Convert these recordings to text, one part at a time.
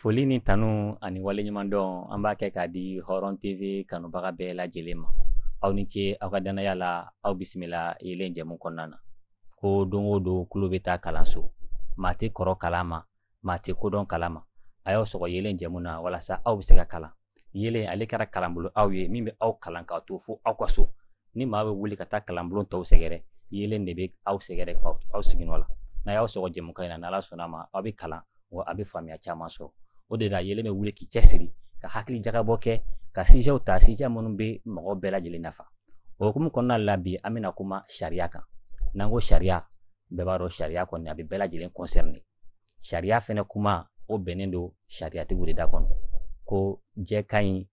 Foli ni tanu ani waleɲuman dɔn an b'a kɛ k'a di hɔrɔn tv kanubaga bɛɛ lajɛlen ma aw ni ce aw ka danaya la aw bisimila yeelen jɛmu kɔnɔna na ko don o don kulo bɛ taa kalanso maa tɛ kɔrɔ kalan ma maa tɛ kodɔn kalan ma a y'aw sɔgɔ yeelen jɛmu na walasa aw bɛ se ka kalan yeelen ale kɛra kalanbolo aw ye min bɛ aw kalan k'a to fo aw ka so ni maa bɛ wuli ka taa kalanbolo tɔw sɛgɛrɛ yeelen de bɛ aw sɛgɛrɛ aw sigiyɔrɔ la n'a y'aw sɔgɔ jɛmukan in na n'ala sɔnna a ma aw bɛ kalan wa a bɛ faamuya caman sɔrɔ o de la yeelen bɛ wuli k'i cɛsiri ka hakili jagabɔ kɛ ka sijɛw ta sijɛ minnu bɛ mɔgɔ bɛɛ lajɛlen nafa o hukumu kɔnɔna la bi an bɛna kuma sariya kan n'an ko sariya bɛɛ b'a dɔn sariya kɔni a bɛ bɛɛ lajɛlen concerné sariya fɛnɛ kuma o bɛnnen don sariyatigiw de da kɔnɔ ko jɛ ka ɲi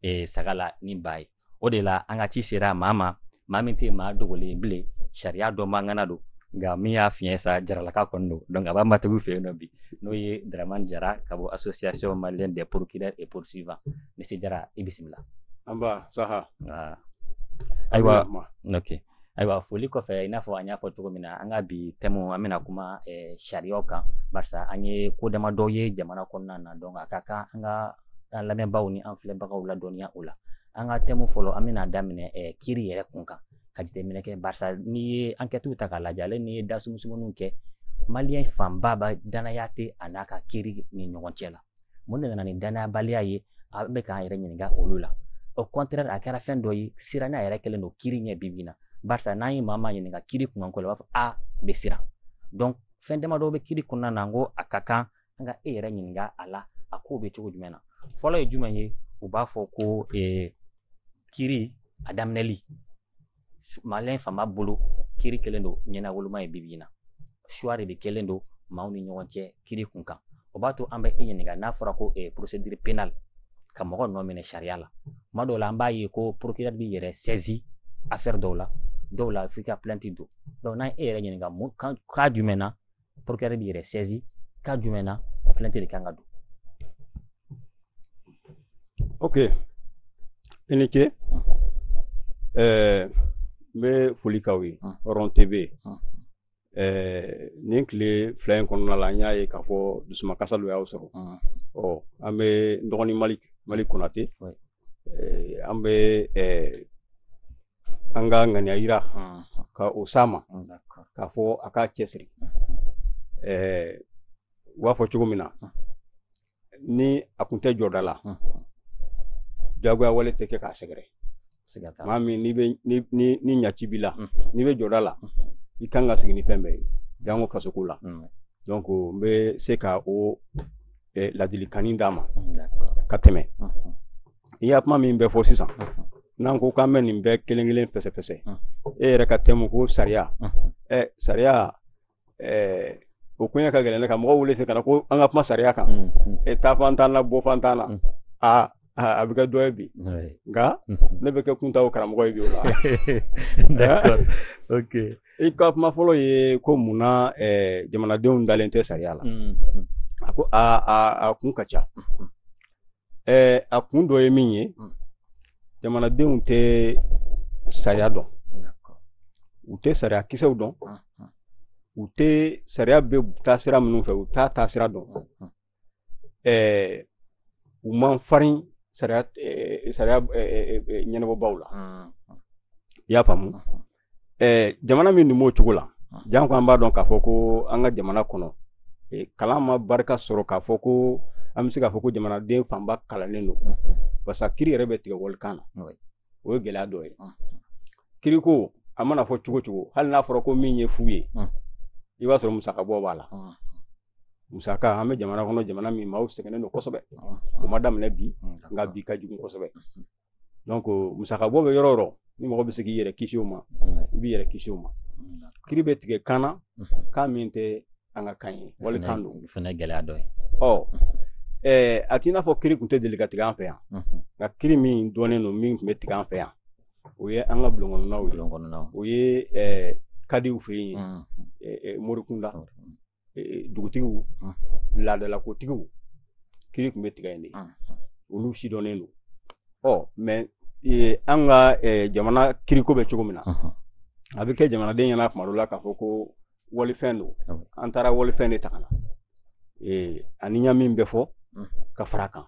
e, saga la ni ba ye o de la an ka ci sera maa ma maa min tɛ maa dogolen ye bilen sariya dɔnba ŋana don nka min y'a fiɲɛ sa jaralaka kɔni don donc a b'a matigiw fɛ yen nɔ bi n'o ye dramani jara ka bɔ association malienne des procureurs et poursuivants monsieur jara i bisimila anba saha ayiwa ok ayiwa foli kɔfɛ i n'a fɔ an y'a fɔ cogo min na an ka bi thème an bɛna kuma eh, sariyaw kan barisa an ye ko dama dɔw ye jamana kɔnɔna na donc a ka kan an ka an lamɛnbaaw ni an filɛbagaw ladɔnniya o la an ka thème fɔlɔ an bɛna daminɛ eh, kiri yɛrɛ kun kan ka jateminɛ kɛ barisa n'i ye ankɛtiw ta k'a lajɛ ale n'i ye dasumusumuniw kɛ maliyɛn fanba ba danaya tɛ a n'a ka kiri ni ɲɔgɔn cɛ la mun de nana ni danayabaliya ye an bɛ k'an yɛrɛ ɲininka olu la au contraire a kɛra fɛn dɔ ye siranya yɛrɛ kɛlen don kiri ɲɛ bibi na barisa n'an ye maa maa ɲininka kiri kunkan ko la u b'a fɔ a bɛ siran donc fɛn damadɔ bɛ kiri kɔnɔna na n ko a ka kan an ka e yɛrɛ ɲininka a la a ko bɛ cogo jumɛn na fɔlɔ ye jumɛn ye u b'a fɔ ko kiri a daminɛli maliyɛn fanba bolo kiri kɛlen don ɲɛnawoloma ye bibi na choix de kɛlen don maaw ni ɲɔgɔn cɛ kiri kun kan o b'a to an bɛ e ɲininka n'a fɔra ko eh, procédure pénale ka mɔgɔ nɔ minɛ sariya la tuma dɔw la an b'a ye ko procureur b'i yɛrɛ saisi affaire dɔw la dɔw la f'i ka plainte don donc n'an ye e yɛrɛ ɲininka cas jumɛn na procureur b'i yɛrɛ saisi cas jumɛn na o plainte de kan ka don ok i ni ce n bɛ foli k'aw ye hɔrɔn tv nin tile fila in kɔnɔna la an y'a ye k'a fɔ dusumakasa dɔ y'aw sɔrɔ ɔ an bɛ n dɔgɔnin mali malick konate eh, an bɛ eh, an ka ŋaniya yira ka o s'a ma k'a fɔ a k'a cɛsiri eh, u b'a fɔ cogo min na ni a kun tɛ jɔda la jagoya wale tɛ kɛ k'a sɛgɛrɛ maa min n'i bɛ ni ni ni ɲaci b'i la n'i bɛ jɔda la i kan ka sigi ni fɛn bɛɛ ye jango fasoko la donc n bɛ se ka o eh, ladilikannin d'a ma ka tɛmɛ i y'a kuma min bɛ fɔ sisan n'an ko k'an bɛ nin bɛɛ kelen kelen fɛsɛfɛsɛ e yɛrɛ ka tɛmu ko sariya ɛ eh, sariya eh, o koɲɛ ka gɛlɛn ne ka mɔgɔw wele se ka na ko an ka kuma sariya kan e taa fan t'an na bɔ fan t'an na a a bɛ kɛ dɔ ye bi nka ne bɛ kɛ kuntaw karamɔgɔ ye bi o la i ka kuma fɔlɔ ye ko mun na jamanadenw dalen tɛ sariya la a ko a kun ka ca a kun dɔ ye min ye jamanadenw tɛ sariya dɔn u tɛ sariya kisɛw dɔn u tɛ sariya bɛ taa sira minnu fɛ u t'a taa sira dɔn ɛɛ u man farin sariya ɛɛ sariya ɛɛ ɲɛnabɔbaaw la i y'a faamu ɛɛ jamana min dun b'o cogo la janko an b'a dɔn k'a fɔ ko an ka jamana kɔnɔ kalan ma barika sɔrɔ k'a fɔ ko an bɛ se k'a fɔ ko jamanaden fanba kalannen don parce que kiri yɛrɛ bɛ tigɛ walikan na o ye gɛlɛya dɔ ye kiriko a mana fɔ cogo o cogo hali n'a fɔra ko min ye fu ye i b'a sɔrɔ musakabɔ b'a la musaka an bɛ jamana kɔnɔ jamana min maaw sɛgɛnnen don kosɛbɛ o ma daminɛ bi nka bi ka jugu kosɛbɛ donc musakabɔ bɛ yɔrɔ o yɔrɔ ni mɔgɔ bɛ se k'i yɛrɛ kisi o ma i b'i yɛrɛ kisi o ma kiri bɛ tigɛ kan na kan min tɛ an ka kan ye walikan don o fana ye gɛlɛya dɔ ye ɔ ɛɛ a t'i n'a fɔ kiri tun tɛ deli ka tigɛ an fɛ yan nka kiri min dɔnnen don min tun bɛ tigɛ an fɛ yan o ye an ka bulon kɔnɔnaw ye bulon kɔnɔnaw o ye ɛɛ kadiw fɛ yen ɛɛ morikunda dugutigiw laadalakotigiw kiri tun bɛ tigɛ yen de olu si dɔnnen don ɔ mais an ka jamana kiriko bɛ cogo min na a bɛ kɛ jamanaden ɲɛna kuma dɔ la k'a fɔ ko walifɛn don an taara walifɛn de ta ka na ani ɲa min bɛ fɔ ka far'a kan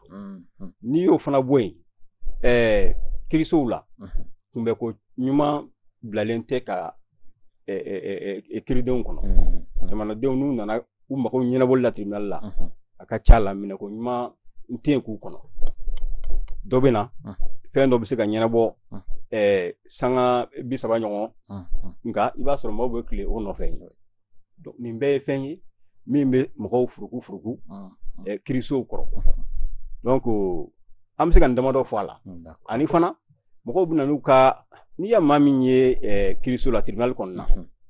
n'i y'o fana bɔ yen ɛɛ kirisow la kunbɛnko ɲuman bilalen tɛ ka kiridenw kɔnɔ jamanadenw n'u nana u mago ɲɛnabɔ la tribunali la a ka ca la minɛko ɲuman tɛ yen k'u kɔnɔ dɔ bɛ na fɛn dɔ bɛ se ka ɲɛnabɔ sanga bi saba ɲɔgɔn nka i b'a sɔrɔ mɔgɔw bɛ tilen o nɔfɛ nin bɛɛ ye fɛn ye min bɛ mɔgɔw furuku furuku kirisow kɔrɔ donc an bɛ se ka nin damadɔ fɔ a la ani fana mɔgɔw bɛ n'u ka n'i ye maa min ye kiriso la tiribinali kɔnɔna na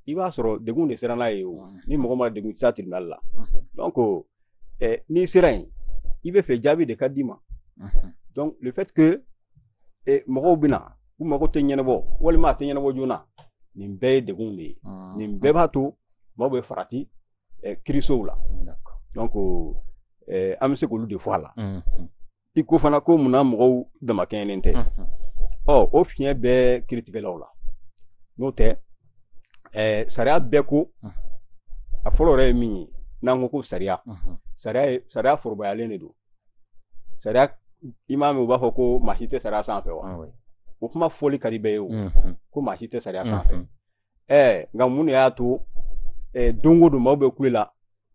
i b'a sɔrɔ degun de sera n'a yen o ni mɔgɔ ma degun tɛ se tiribinali la donc n'i sera yen i b'a fɛ jaabi de ka d'i ma le fait que e mɔgɔw bɛ na u mago tɛ ɲɛnabɔ walima a tɛ ɲɛnabɔ joona nin bɛɛ ye degun de ye ah. nin bɛɛ b'a to maaw bɛ farati kirisow la donc an bɛ se k'olu de fɔ a la mm-hmm. i ko fana ko munna mɔgɔw damakɛɲɛnen tɛ mm-hmm. ɔ o fiɲɛ bɛɛ kiritigɛlaw la n'o tɛ sariya bɛɛ ko mm-hmm. a fɔlɔ yɛrɛ ye min ye n'an ko ko sariya sariya sariya forobayalen de don sariya i m'a mɛn u b'a fɔ ko maa si tɛ sariya sanfɛ wa ah o kuma fɔli ka di bɛɛ ye o mhm. ko maa si tɛ sariya sanfɛ mhm. ɛɛ nka mun de y'a to don o don maaw bɛ kule la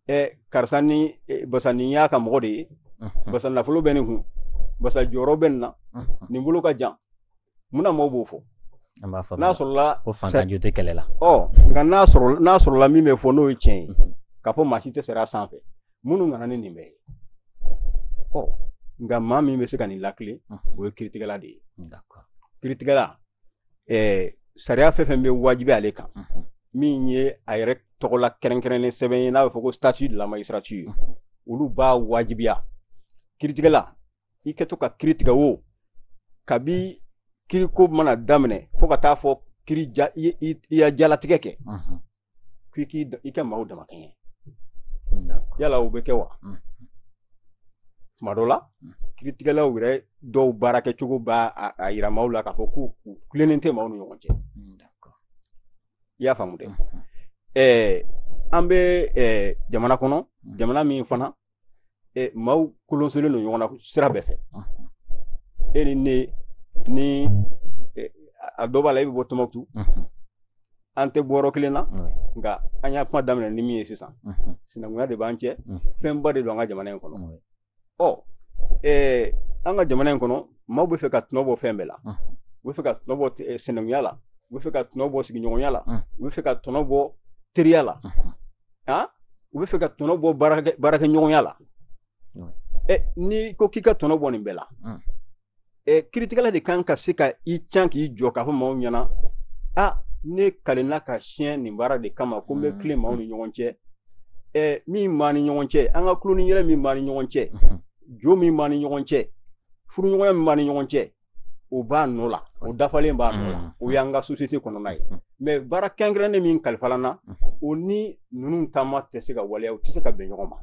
ɛɛ karisa ni basa nin y'a ka mɔgɔ de ye mhm. basa nafolo bɛ nin kun basa jɔyɔrɔ bɛ nin na nin bolo ka jan munna maaw b'o fɔ an b'a faamuya n'a sɔrɔla ko faantan jo tɛ kɛlɛ la ɔ nka n'a sɔrɔ n'a sɔrɔla min bɛ fɔ n'o ye tiɲɛ ye mhm. k'a fɔ maa si tɛ sariya sanfɛ minnu nana ni nin bɛɛ ye ɔ nka maa min bɛ se ka nin latilen mhm. o ye kiritigɛla de ye kiritigɛla ɛɛ sariya fɛn fɛn bɛ wajibi ale kan mhm. min ye a yɛrɛ tɔgɔla kɛrɛnkɛrɛnnen sɛbɛn ye n'a bɛ fɔ ko statut de la magistrature olu b'a wajibiya kiritigɛla i kɛtɔ ka kiri tigɛ o kabi kiriko mana daminɛ fo ka taa fɔ kiri ja i ye i ya jalatigɛ kɛ mhm. k'i k'i i ka maaw damakɛɲɛ yala o bɛ kɛ wa mhm. tuma dɔ la mhm. kiritigɛlaw yɛrɛ dɔw baarakɛcogo b'a a yira maaw la k'a fɔ k'u u tilennen tɛ maaw ni ɲɔgɔn cɛ i y'a faamu dɛ ɛɛ an bɛ jamana kɔnɔ jamana min fana e maaw kolonsolen don ɲɔgɔn na sira bɛɛ fɛ e ni ne ni a dɔ b'a la i bɛ bɔ tɔnbukutu an tɛ bɔ yɔrɔ kelen na nka an y'a kuma daminɛ ni min ye sisan sinankunya de b'an cɛ fɛnba de don an ka jamana in kɔnɔ ɔ an ka jamana in kɔnɔ maaw bɛ fɛ ka tɔnɔ bɔ fɛn bɛɛ la u bɛ fɛ ka tɔnɔ bɔ sinankunya la u bɛ fɛ ka tɔnɔ bɔ sigiɲɔgɔnya la u bɛ fɛ ka tɔnɔ bɔ teriya la han u bɛ fɛ ka tɔnɔ bɔ baarakɛ baarakɛɲɔgɔnya la ɛ n'i ko k'i ka tɔnɔ bɔ nin bɛɛ la ɛ kiritigɛla de kan ka se ka i can k'i jɔ k'a fɔ maaw ɲɛna a ne kalenna ka siɲɛ nin baara de kama ko n bɛ tilen maaw ni ɲɔgɔn cɛ ɛ min b'an ni ɲɔgɔn cɛ an ka tulon ni yɛlɛ min b'an ni ɲɔgɔn cɛ jo min b'an ni ɲɔgɔn cɛ furuɲɔgɔnya min b'an ni ɲɔgɔn cɛ o b'a nɔ la o dafalen b'a nɔ la mm. o y'an ka société kɔnɔna ye mm. mais baara kɛrɛnkɛrɛnnen min kalifala n na mm. o ni ninnu taama tɛ se ka waleya u tɛ se ka bɛn ɲɔgɔn ma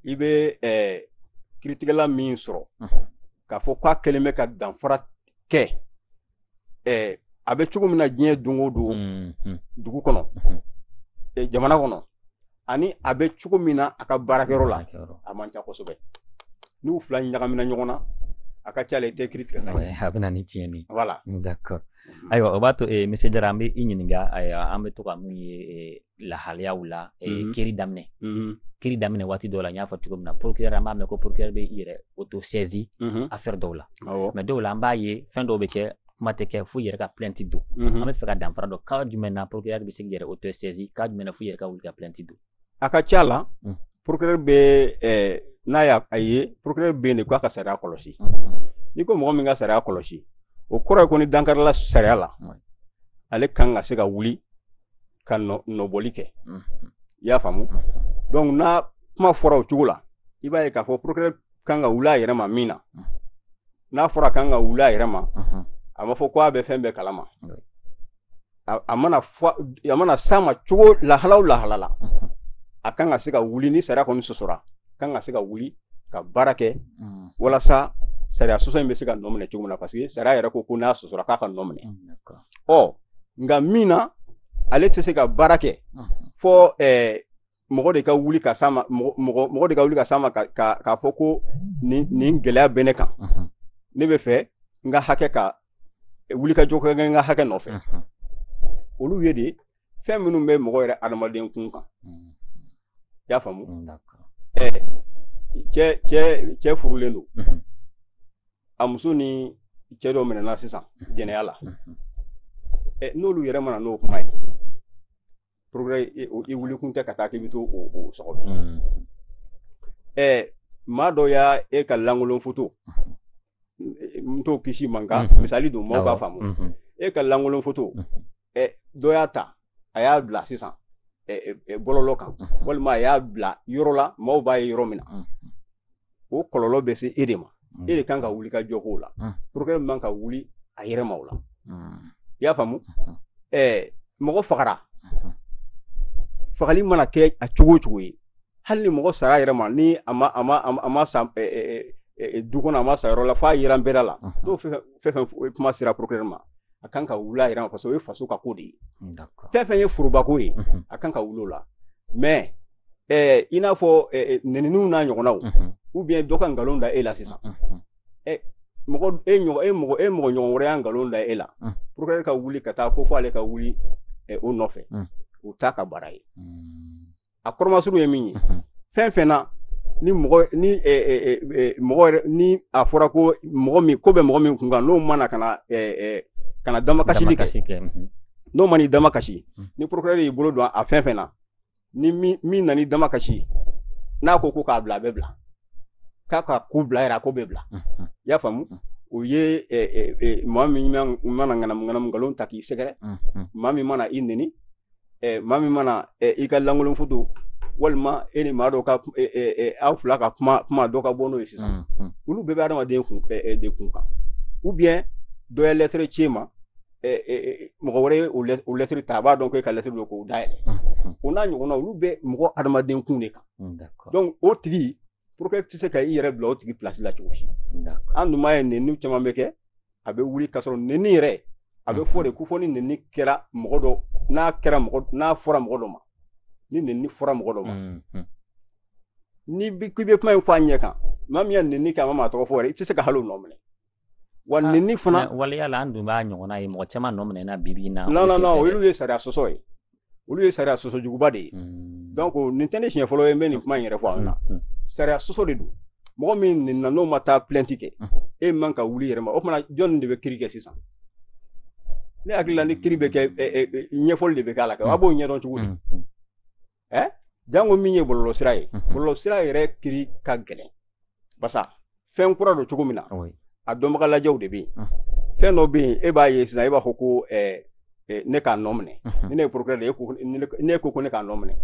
i bɛ kiritigɛla min sɔrɔ k'a fɔ k'a kɛlen bɛ ka danfara kɛ ɛɛ a bɛ cogo min na diɲɛ don o don mm-hmm. dugu kɔnɔ eh, jamana kɔnɔ ani a bɛ cogo min na a ka baarakɛyɔrɔ la a man ca kosɛbɛ n'u fila ɲagamina ɲɔgɔn na a ka ca la i tɛ kiri tigɛ a bɛ na ni tiɲɛni voilà d'accord mm-hmm. ayiwa o b'a to eh, monsieur jara an bɛ i ɲininka an bɛ to ka mun ye eh, lahalayaw la mhm. kiri daminɛ mhm. kiri daminɛ waati dɔw la n y'a fɔ cogo min na procureur an b'a mɛn ko procureur bɛ i yɛrɛ auto saisi mhm. affaire dɔw la mais dɔw la an b'a ye fɛn dɔw bɛ kɛ kuma tɛ kɛ fo i yɛrɛ ka plainte don an b'a fɛ ka danfara dɔn cas jumɛn na procureur bɛ se k'i yɛrɛ auto saisi cas jumɛn na fo i yɛrɛ ka wuli ka plainte don a ka ca la mm. procureur bɛ eh, n'a y'a a ye procureur bɛ yen de k'a ka sariya kɔlɔsi n'i ko mɔgɔ min ka sariya kɔlɔsi o kɔrɔ ye ko ni dankarila sariya la ale kan ka se ka wuli ka nɔbɔli kɛ i y'a faamu donc n'a kuma fɔra o cogo la i b'a ye k'a fɔ procureur kan ka wuli a yɛrɛ ma min na n'a fɔra k'a kan ka wuli a yɛrɛ ma a ma fɔ ko a bɛ fɛn bɛɛ kalama a mana a mana s'a ma cogo lahala o lahala la a kan ka se ka wuli ni sariya kɔni sɔsɔra a kan ka se ka wuli ka baara kɛ walasa sariya sɔsɔ in bɛ se ka nɔ minɛ cogo min na parce que sariya yɛrɛ ko ko n'a sɔsɔra k'a ka nɔ minɛ ɔ nka min na ale tɛ se ka baara kɛ fo ɛɛ mɔgɔ de ka wuli ka s'a ma mɔgɔ mɔgɔ de ka wuli ka s'a ma ka k'a fɔ ko nin nin gɛlɛya bɛ ne kan ne b'a fɛ n ka hakɛ ka wulikajɔ kɛ n ka hakɛ nɔfɛ olu ye de fɛn minnu bɛ mɔgɔ yɛrɛ adamaden kun kan mm. i y'a faamu mm, ɛ cɛ cɛ cɛ furulen don mm-hmm. a muso ni cɛ dɔ minɛna sisan mm-hmm. jɛnɛya la mm-hmm. ɛ n'olu yɛrɛ ma na n'o kuma ye procureur wuli kun tɛ ka taa k'i bɛ t'o o o sɔgɔbɛ maa dɔ y'a e ka lankolon foto n t'o kisi man kan mhm. misali don maaw b'a faamu mhm. e ka lankolon foto mhm. ɛ dɔ y'a ta a y'a bila sisan bɔlɔlɔ kan walima a y'a bila yɔrɔ la maaw b'a ye yɔrɔ min na o kɔlɔlɔ bɛ se e de ma e de kan ka wulikajɔ k'o la procureur man ka wuli a yɛrɛ ma o la i y'a faamu ɛɛ mɔgɔ fagara fagali mana kɛ a cogo o cogo ye hali ni mɔgɔ sara a yɛrɛ ma ni a ma a ma a ma sa du kɔnɔ a ma sa yɔrɔ la f'a yira bɛɛ la n'o fɛn fɛn kuma sera procureur ma a kan ka wuli a yɛrɛ ma parce que o ye faso ka ko de ye fɛn fɛn ye forobako ye a kan ka wuli o la mais eh, i n'a fɔ eh, eh nɛniniw n'a ɲɔgɔnnaw ou bien dɔ ka nkalon da e la sisan eh, mɔgɔ e ɲɔgɔn e mɔgɔ e mɔgɔ ɲɔgɔn wɛrɛ ye nkalon da e la procureur ka wuli ka taa ko fo ale ka wuli eh, o nɔfɛ o t'a ka baara ye a kɔrɔmasuru ye min ye fɛn fɛn na ni mɔgɔ ni mɔgɔ ni a fɔra ko mɔgɔ min ko bɛ mɔgɔ min kun kan n'o ma na ka na ka na damakasi kɛ n'o ma n'i damakasi ni procureur y'i bolo don a fɛn fɛn na ni min nan'i damakasi n'a ko ko k'a bila a bɛ bila k'a ka ko bila yɛrɛ a ko bɛ bila i y'a faamu o ye maa min mana ŋanamu nkalon ta k'i sɛgɛrɛ maa min mana i n eh, maa min mana eh, i ka lankolon foto walima e ni maa dɔ ka eh, eh, eh, aw fila ka kuma kuma dɔ ka bɔ n'o ye sisan mm, mm. olu bɛɛ bɛ adamaden kun eh, eh, de kun kan ou bien dɔ ye lɛtɛrɛ ci e ma eh, eh, eh, mɔgɔ wɛrɛ ye o lɛ- o lɛtɛrɛ ta a b'a dɔn ko e ka lɛtɛrɛ don k'o dayɛlɛ Mm, mm, o n'a ɲɔgɔnna olu bɛ mɔgɔ adamaden kun de kan mm, D'accord. donc o tigi procureur tɛ se ka i yɛrɛ bila o tigi place la cogo si D'accord. an dun b'a ye nenni caman bɛ kɛ a bɛ wuli k'a sɔrɔ nenni yɛrɛ a bɛ fɔ de ko fɔ ni nenni kɛra mɔgɔ dɔ n'a kɛra mɔgɔ n'a fɔra mɔgɔ dɔ ma ni nenni fɔra mɔgɔ dɔ ma n'i bi k'i bɛ kuma in fɔ a ɲɛ kan maa min ye nenni kɛ a ma maa tɔgɔ fɔ yɛrɛ i tɛ se ka hali o nɔ minɛ wa ah, nenni fana waleya la an dun b'a ɲɔgɔnna ye mɔgɔ caman nɔ minɛna bi bi in na non non non olu ye sariya sɔsɔ ye olu ye sariya sɔsɔ juguba de ye hmm. donc nin tɛ ne siɲɛ fɔlɔ ye n bɛ nin kuma in yɛrɛ fɔ aw ɲɛna hmm, hmm. sariya sɔsɔ de don mɔgɔ min nenina n'o ma taa plainte kɛ e man ka wuli yɛrɛ ma o tuma na jɔnni de bɛ kiri kɛ sisan ne hakili la ni kiri bɛ kɛ ɲɛfɔli de bɛ k'a la kɛ a b'o ɲɛdɔn cogo di ɛ jango min ye bɔlɔlɔsira ye bɔlɔlɔsira yɛrɛ kiri ka gɛlɛn basa fɛn kura don cogo min na a dɔnbaga lajɛw de bɛ yen fɛn dɔ bɛ yen e b'a ye sisan e b'a fɔ ko eh, eh, ne k'a nɔ minɛ ni ne ye procureur de ye e ne ko ko ne k'a nɔ minɛ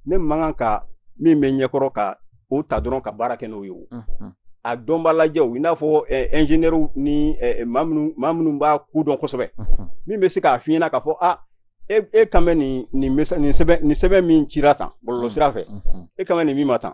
ne man kan ka min bɛ ɲɛkɔrɔ ka o ta dɔrɔn ka baara kɛ n'o ye o a dɔnba lajɛw i n'a fɔ ɛnzeniyɛriw ni maa minnu b'a ko dɔn kosɛbɛ min bɛ se k'a f'i ɲɛ na k'a fɔ a e e kan bɛ nin nin nin sɛbɛn nin sɛbɛn min cira tan bɔlɔlɔ sira fɛ e kan bɛ nin min ma tan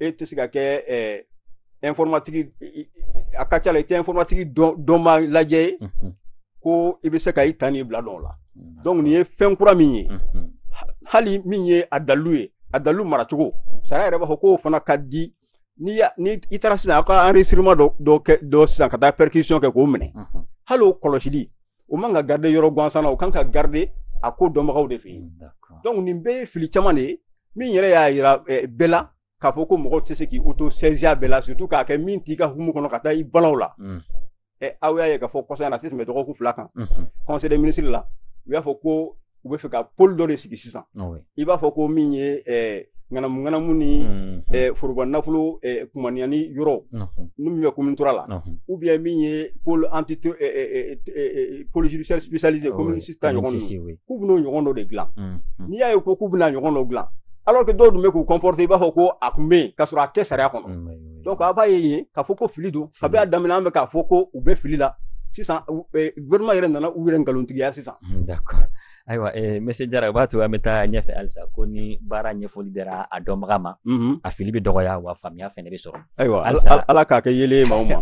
e tɛ se ka kɛ ɛɛ informatique a ka ca la i tɛ informatique dɔnba lajɛ ye mhm. ko i bɛ se ka i ta n'i bila dɔn o la donc nin ye fɛn kura min ye mhm. hali min ye a dalilu ye a dalilu maracogo sariya yɛrɛ b'a fɔ k'o fana ka di ni ni i taara sisan aw ka enregistrement dɔ dɔ kɛ dɔ sisan ka taa perquisition kɛ k'o minɛ mhm. hali o kɔlɔsili o man ka garder yɔrɔ gansan na o kan ka garder a ko dɔnbagaw de fɛ yen donc nin bɛɛ ye fili caman de ye min yɛrɛ y'a yira eh, bɛɛ la k'a fɔ ko mɔgɔ tɛ se k'i auto saisir a bɛɛ la surtout k'a kɛ min t'i ka hukumu kɔnɔ ka taa i bala u la mm. eh, aw y'a ye k'a fɔ kɔsa in na a tɛ tɛmɛ dɔgɔkun fila kan conseil des ministres la u y'a fɔ ko u b'a fɛ ka pôle dɔ de sigi sisan i b'a fɔ ko min ye ŋanamu ŋanamu ni mhm. foroba nafolo kumaniyani yɔrɔ nin min bɛ commune trois la ou bien min ye pôle anti pôle judiciaire spécialisé commune six ta ɲɔgɔn ninnu k'u bɛn'o ɲɔgɔn dɔ de dilan mhm. n'i y'a ye ko k'u bɛn'a ɲɔgɔn dɔ dilan alors que dɔw tun bɛ k'u comporter i b'a fɔ ko a tun bɛ yen k'a sɔrɔ a tɛ sariya kɔnɔ donc a b'a ye yen k'a fɔ ko fili don kabi a daminɛ an bɛ k'a fɔ ko u bɛ fili la sisan eh, gouvernement yɛrɛ nana u yɛrɛ nkalontigiya sisan hmm, d'accord ayiwa eh, monsieur jara o b'a to an bɛ taa ɲɛfɛ halisa ko ni baara ɲɛfɔli dira a dɔnbaga ma mhm. a fili bɛ dɔgɔya wa faamuya fɛnɛ bɛ sɔrɔ ayiwa ala k'a kɛ yeelen maaw ma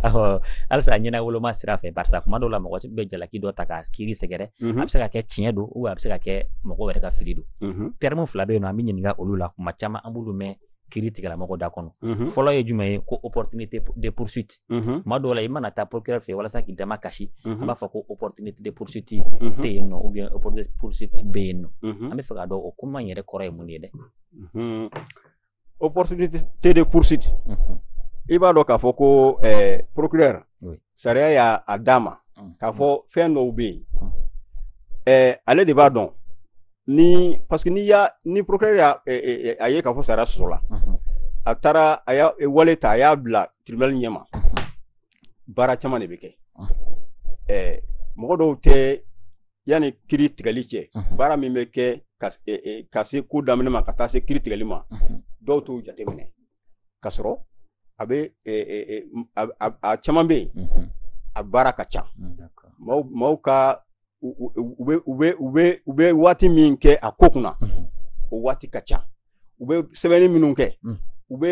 halisa ɲɛnawoloma sira fɛ barisa kuma dɔw la mɔgɔ bɛ jalaki dɔ ta ka kiri sɛgɛrɛ mhm. a bɛ se ka kɛ tiɲɛ don ou bien a bɛ se ka kɛ mɔgɔ wɛrɛ ka fili don mhm. terme fila bɛ yen nɔ an b'i ɲininka olu la kuma caman an b'olu mɛn kiritigɛla mɔgɔ da kɔnɔ mhm. fɔlɔ ye jumɛn ye ko opportunité de poursuite mhm. tuma dɔw la i mana taa procureur fɛ walasa k'i damakasi a mhm. b'a fɔ ko opportunité de poursuite tɛ yen nɔ ou bien opportunité de poursuite bɛ yen nɔ an b'a fɛ k'a dɔn o kuma in yɛrɛ kɔrɔ ye mun ye dɛ opportunité de poursuite i b'a dɔn k'a fɔ ko eh, procureur sariya y'a a d'a ma mm. k'a fɔ fɛn dɔw bɛ yen mm. eh, ale de b'a dɔn ni parce que n'i y'a ni procureur y'a eh, eh, eh, a ye k'a fɔ sariya sɔsɔla mm-hmm. a taara a y'a wale ta a y'a bila tribunal ɲɛma mm-hmm. baara caman de bɛ kɛ mm-hmm. mɔgɔ dɔw tɛ yanni kiri tigɛli cɛ baara min bɛ kɛ ka se ko daminɛ ma ka taa se kiri tigɛli ma dɔw t'o jateminɛ ka sɔrɔ a bɛ a caman bɛ yen a baara ka ca maaw ka u bɛ waati min kɛ a ko kunna o waati ka ca u bɛ sɛbɛnni minnu kɛ u bɛ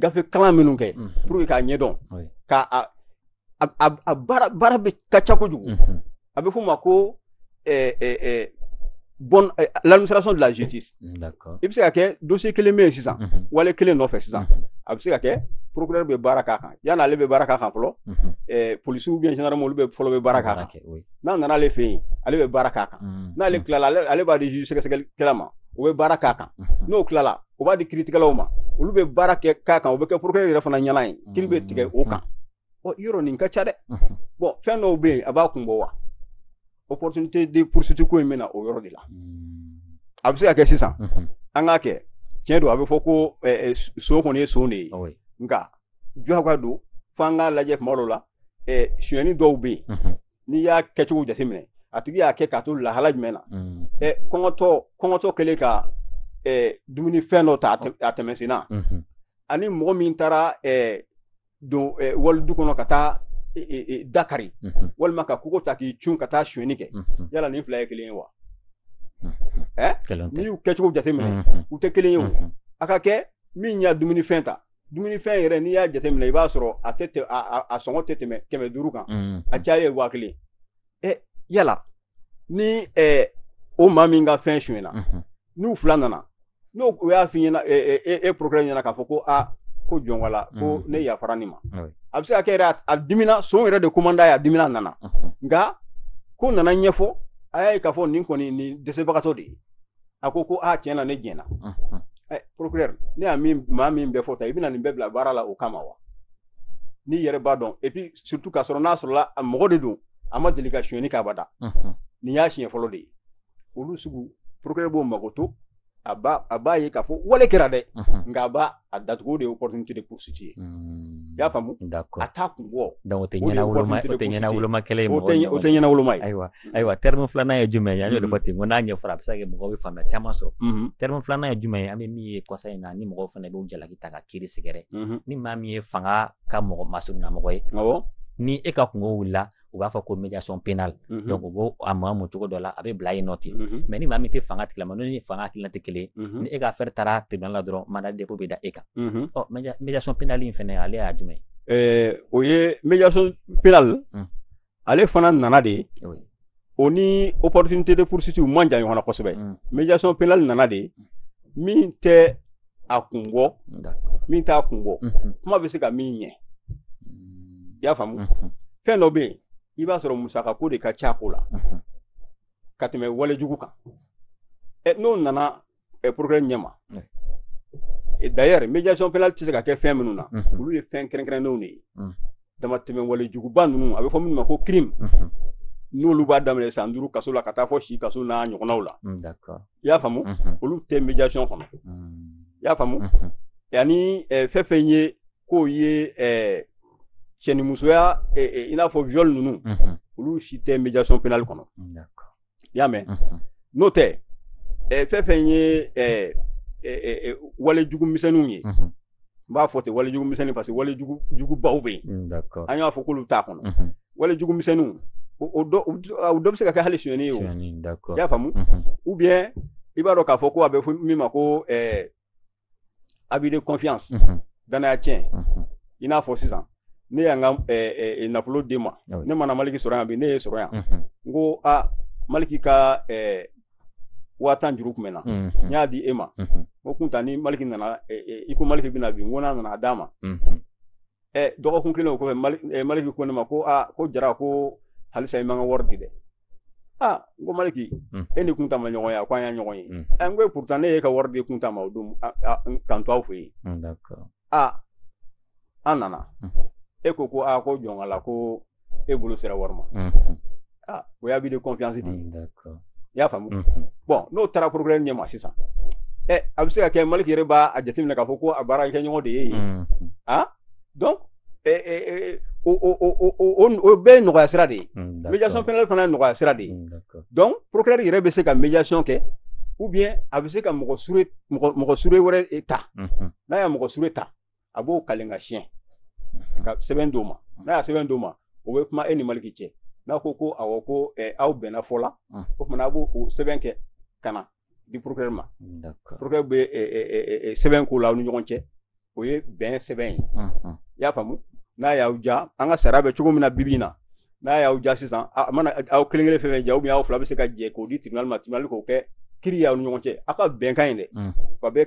gafe kalan minnu kɛ pour que k'a ɲɛdɔn ka a baara bɛ ka ca kojugu mhm. a bɛ f'o ma ko eh, eh, eh, bonne administration de la justice i bɛ se ka kɛ dossier kelen bɛ yen sisan mhm. wale kelen nɔfɛ sisan mhm. a bɛ se ka kɛ procureur bɛ baara k'a kan yanni ale bɛ baara k'a kan fɔlɔ policiers ou bien gendarmes olu bɛ fɔlɔ bɛ baara k'a kan n'a nana ale fɛ yen ale bɛ baara k'a kan n'ale tilala ale b'a di juge sɛgɛsɛgɛlikɛla ma o bɛ baara k'a kan n'o tilala o b'a di kiritigɛlaw ma olu bɛ baara kɛ k'a kan o bɛ kɛ procureur yɛrɛ fana ɲɛna ye kiri bɛ tigɛ o kan ɔ yɔrɔ nin ka ca dɛ bon fɛn dɔw bɛ yen a b'a kun bɔ wa opportunité de poursuite ko in bɛ na o yɔrɔ de la a bɛ se ka kɛ sisan an k'a kɛ tiɲɛ don a bɛ fɔ ko son kɔni ye son de ye nka jɔka don fo an k'a lajɛ kuma dɔw la sonyɛni dɔw bɛ yen n'i y'a kɛcogo jateminɛ a tigi y'a kɛ k'a to lahala jumɛn na mm. ɛ kɔngɔtɔ kɔngɔtɔ kɛlen ka ɛ dumuni fɛn dɔ ta a tɛmɛ senna mm-hmm. ani mɔgɔ min taara ɛ don ɛ wali du kɔnɔ ka taa da kari mm-hmm. walima ka kogo ta k'i cun ka taa sonyɛni kɛ mm-hmm. yala nin fila ye kelen ye wa ɛ n'i y'u kɛcogo jateminɛ u tɛ kelen ye o a ka kɛ min y'a dumunifɛn ta dumunifɛn yɛrɛ n'i y'a jateminɛ i b'a sɔrɔ a tɛ tɛ a, a, a sɔngɔ tɛ tɛmɛ kɛmɛ duuru kan mm. a caya ye waa kelen ɛ eh, yala ni eh, o maa min ka fɛn sonyɛna mm -hmm. n'u fila nana n'o o y'a f'i ɲɛna eh, eh, e procureur ɲɛna k'a fɔ ko a ah, ko jɔnwala mm. ko mm-hmm. ne yafara nin ma oui. a bɛ se ka kɛ yɛrɛ a dimina son yɛrɛ de ko man d'a ye a dimina nana mm -hmm. nka ko nana ɲɛfɔ a y'a ye k'a fɔ nin kɔni nin dɛsɛbagatɔ de ye a ko ko a tiɲɛ na ne jɛnna ɛ procureur ne y'a min maa min bɛɛ fɔ ta i bɛna nin bɛɛ bila baara la o kama wa n'i yɛrɛ b'a dɔn et puis surtout k'a sɔrɔ n'a sɔrɔla a mɔgɔ de don a ma deli ka sonyɛni k'abada nin y'a siɲɛ fɔlɔ de ye olu sugu procureur b'o makoto a b'a ye k'a fɔ wale kɛra dɛ nka a b'a a datugu de ye opportunité de poursuite ye hmm. i y'a faamu a t'a kun bɔ donc o tɛ ɲɛnawoloma o tɛ ɲɛnawoloma kɛlɛ ye o tɛ o tɛ ɲɛnawoloma ye ayiwa hmm. ayiwa terme filanan ye jumɛn ye an y'o de fɔ ten ko n'a ɲɛfɔra a bɛ se ka kɛ mɔgɔw bɛ faamuya caman sɔrɔ hmm. terme filanan ye jumɛn ye an bɛ min ye kɔsa in na ni mɔgɔw fana b'u jalaki ta ka kiri sɛgɛrɛ ni maa min ye fanga ka mɔgɔ masurunnamɔgɔ ye ni e ka kunko wulila u b'a fɔ ko médiation pénale mm -hmm. donc u b'o a maamu cogo dɔ la a bɛ bila yen nɔ ten mm -hmm. mais ni maa min tɛ fanga tigilama n'o ni fanga hakilina tɛ kelen mm -hmm. ni e ka affaire taara tribunal la dɔrɔn mandat de dépôt bɛ da e kan mm -hmm. ɔ médiation pénale in fɛnɛ ale y'a jumɛn ye o ye médiation pénale mm. ale fana nana de oui. o ni opportunité de poursuite u man jan ɲɔgɔn na kosɛbɛ mm. médiation pénale nana de min tɛ a kun bɔ min t'a kun bɔ mhm. kuma bɛ se ka min ɲɛ mm. i y'a faamu mhm. fɛn dɔ bɛ yen i b'a sɔrɔ musaka ko de ka ca ko la mhm. ka tɛmɛ walejugu kan ɛ n'o nana ɛ procureur ɲɛ ma d'ailleurs médiation pénale tɛ se ka kɛ fɛn minnu na olu ye fɛn kɛrɛnkɛrɛnnenw de ye mm. damatɛmɛ walejuguba ninnu a bɛ fɔ minnu ma ko crime n'olu b'a daminɛ san duuru kaso la ka taa fo si kaso n'a ɲɔgɔnnaw la mm, i y'a faamu mhm. olu tɛ médiation kɔnɔ mhm. i y'a faamu mhm. yanni eh, fɛn fɛn ye k'o ye eh, cɛnimusoya eh, i n'a fɔ viol ninnu olu si tɛ médiation pénale kɔnɔ i y'a mɛn n'o tɛ fɛn fɛn ye walejugu misɛnninw ye n b'a fɔ ten walejugu misɛnnin parce que walejugu jugubaw bɛ yen mm, an y'a fɔ k'olu t'a kɔnɔ mhm. walejugu misɛnninw o dɔ o dɔ bɛ se ka kɛ hali sonyɛni ye o i y'a faamu mhm. ou bien i b'a dɔn k'a fɔ ko a bɛ fɔ min ma ko ɛɛ abus de confiance mhm. danaya tiɲɛ i n'a fɔ sisan ne y'an ka ɛɛ nafolo d'e ma ne mana maliki sɔrɔ yan bi ne y'e sɔrɔ yan n ko a maliki ka ɛɛ waa tan juru tun bɛ n na n y'a di e ma o kunta ni maliki nana i ko maliki bɛna bi n ko n'a nana a d'a ma dɔgɔkun kelen o kɔfɛ maliki ko ne ma ko aa ko jara ko halisa i ma n ka wari di dɛ aa n ko maliki e ni kunta ma ɲɔgɔn ye a ko an ye ɲɔgɔn ye n ko e pourtant ne y'e ka wari di kunta ma o don ka n to aw fɛ yen aa an nana e ko ko aa ko jɔnkala ko e bolo sera wari ma aa o y'abus de confiance di i y'a faamu bon n'o taara procureur ɲɛ ma sisan ɛ a bɛ se ka kɛ maliki yɛrɛ b'a a jateminɛ k'a fɔ ko a baarakɛɲɔgɔn de ye yen a donc o bɛɛ ye nɔgɔya sira de ye médiation pénale fana ye nɔgɔya sira de ye donc procureur yɛrɛ bɛ se ka médiation kɛ ou bien a bɛ se ka mɔgɔ sure mɔgɔ sure wɛrɛ ta n'a y'a mɔgɔ sure ta a b'o kalen ka siɲɛ ka sɛbɛn d'o ma n'a y'a sɛbɛn d'o ma o bɛ kuma e ni maliki cɛ n'a ko ko awɔ ko aw bɛnna fɔ la o tuma a b'o o sɛbɛn kɛ ka na di procureur ma procureur bɛ sɛbɛn k'o la aw ni ɲɔgɔn cɛ o ye bɛn sɛbɛn ye i y'a faamu n'a y'aw ja an ka sariya bɛ cogo min na bibi in na n'a y'aw ja sisan a mana aw kelen kelen fɛn fɛn ja aw fila bɛ se ka jɛ k'o di tribunal ma tribunal k'o kɛ kiri y'aw ni ɲɔgɔn cɛ aw ka bɛnkan in dɛ wa bɛ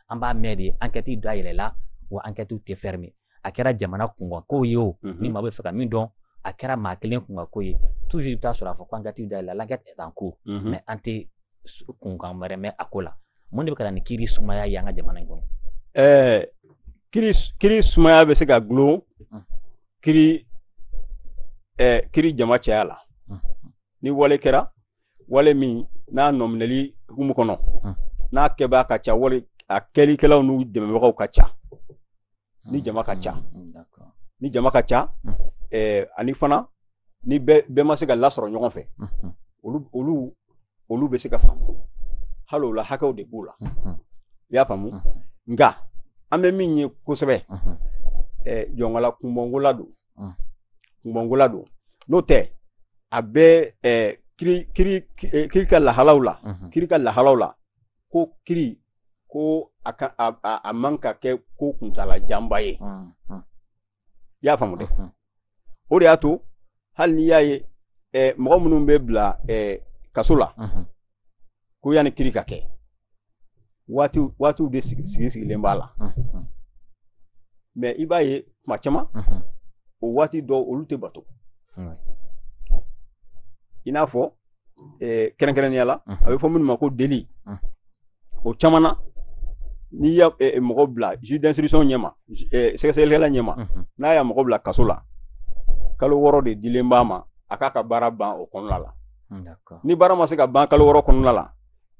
an b'a mɛn de ankɛti da yɛlɛla wa ankɛtiw tɛ fermer a kɛra jamana kunkan ko ye o ni maa b'a fɛ ka min dɔn a kɛra maa kelen kunkan ko ye toujours i bɛ taa sɔrɔ a fɔ ko ankɛtiw da yɛlɛla l'enquête est en cours mais an tɛ kunkan wɛrɛ mɛn a ko la mun de bɛ ka na ni kiri sumaya ye an ka jamana in kɔnɔ ɛɛ kiri kiri sumaya bɛ se ka gulon kiri ɛɛ kiri jama caya la ni wale kɛra wale min n'a nɔminɛli hukumu kɔnɔ n'a kɛbaa ka ca wale a kɛlikɛlaw n'u dɛmɛbagaw ka ca ni jama ka ca ni jama ka ca eh, ani fana ni bɛɛ ma se ka lasɔrɔ ɲɔgɔn fɛ olu olu olu bɛ se ka faamu hali o la hakɛw de b'u la i y'a faamu nka an bɛ min ye kosɛbɛ jɔnkala kunbɔnkola don mm. kunbɔnkola don n'o tɛ a bɛ eh, kiri kiri eh, kiri ka lahalaw la mm -hmm. kiri ka lahalaw la ko kiri ko a ka a, a, a man ka kɛ ko kuntala janba ye mm -hmm. i y'a faamu dɛ mm -hmm. o de y'a to hali n'i y'a ye eh, mɔgɔ minnu bɛ bila eh, kaso la mm -hmm. ko yanni kiri ka kɛ waatiw waatiw de sigi sigi sigilen b'a la mhm. mais i b'a ye tuma caman mhm. o waati dɔw olu tɛ bato i n'a fɔ eh, kɛrɛnkɛrɛnnenya la mhm. a bɛ fɔ minnu ma ko délit o caman na n'i ye eh, mɔgɔ bila juge d'instruction ɲɛma eh, sɛgɛsɛgɛlikɛla ɲɛma n'a y'a mɔgɔ bila kaso la kalo wɔɔrɔ de dilen b'a ma a k'a ka baara ban o kɔnɔna la ni baara ma se ka ban kalo wɔɔrɔ kɔnɔna la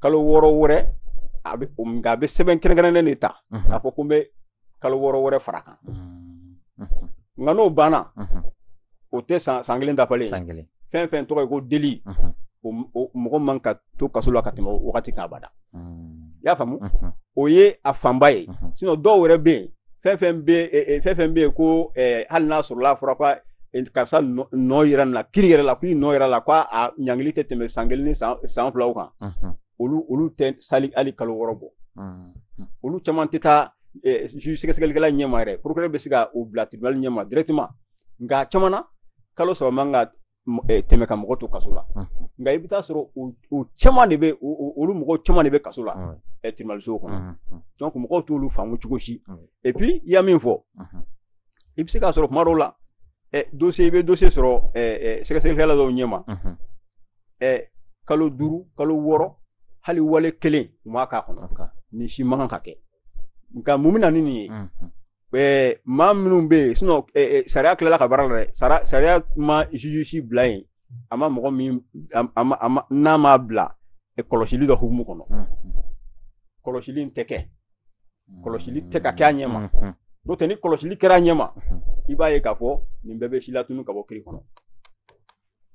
kalo wɔɔrɔ wɛrɛ a bɛ nka a bɛ sɛbɛn kɛrɛnkɛrɛnnen de ta k'a fɔ ko n bɛ kalo wɔɔrɔ wɛrɛ fara kan nka n'o banna o tɛ san san kelen dafalen san kelen fɛn fɛn tɔgɔ ye ko délit o mɔgɔ man ka to kaso la ka tɛmɛ wagati kan abada i y'a faamu o ye a fanba ye sinon dɔw yɛrɛ bɛ yen fɛn fɛn bɛ fɛn fɛn bɛ yen ko hali n'a sɔrɔla a fɔra ko karisa nɔ yɛrɛ na kiri yɛrɛ la k'i nɔ yɛrɛ la k'a ɲangili tɛ tɛmɛ san kelen ni san filaw kan olu olu tɛ se hali hali kalo wɔɔrɔ bɔ olu caman tɛ taa sɛgɛsɛgɛlikɛla ɲɛma yɛrɛ procureur bɛ se ka u bila tribunal ɲɛma directement nka caman na kalo saba man ka eh, tɛmɛ ka mɔgɔ to kaso la nka i bɛ taa sɔrɔ o caman de bɛ olu mɔgɔ caman de bɛ kaso la eh, tirimaliso kɔnɔ donc mɔgɔw t'olu faamu cogo si et puis i y'a min fɔ i bɛ se k'a sɔrɔ tuma dɔw la eh, dossier i bɛ dossier sɔrɔ sɛgɛsɛgɛlikɛla dɔw ɲɛma kalo duuru kalo wɔɔrɔ hali wale kelen u m'a k'a kɔnɔ nin si man kan ka kɛ nka mun bɛ na ni nin ye eh, maa minnu bɛ yen sinon eh, eh, sariya tilala ka baara la dɛ sara sariya ma juge si bila yen a ma mɔgɔ min a a ma a ma n'a ma bila eh, kɔlɔsili dɔ hukumu kɔnɔ Mm, kɔlɔsili in tɛ kɛ mm. kɔlɔsili tɛ ka kɛ a ɲɛ ma Mhm, n'o tɛ ni kɔlɔsili kɛra a ɲɛ ma mhm. i b'a ye k'a fɔ nin bɛɛ bɛ silatunu ka bɔ kiri kɔnɔ